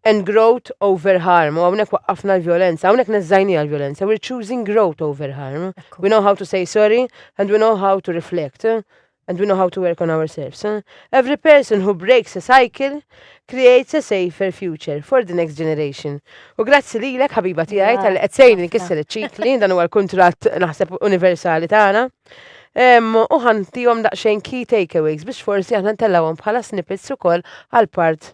and growth over harm, u hawnhekk waqqafna l-vjolenza, hawnhekk neżżajniha l-vjolenza, we're choosing growth over harm. We know how to say sorry and we know how to reflect and we know how to work on ourselves. Every person who breaks a cycle creates a safer future for the next generation. U grazzi lilek ħabiba tiegħi tal qed sejni nkisser iċ-ċikli, dan huwa l-kuntratt naħseb universali tagħna. U ħantihom daqsxejn key takeaways biex forsi aħna ntellawhom bħala snippets ukoll għal part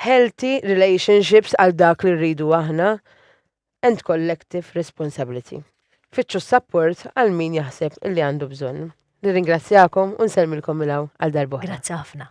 healthy relationships għal dak li rridu aħna and collective responsibility. Fittxu s-sapport għal min jaħseb li għandu bżonn. Nirringrazzjakom u nsellmilkom minn hawn għal darb'oħra. Grazzi ħafna.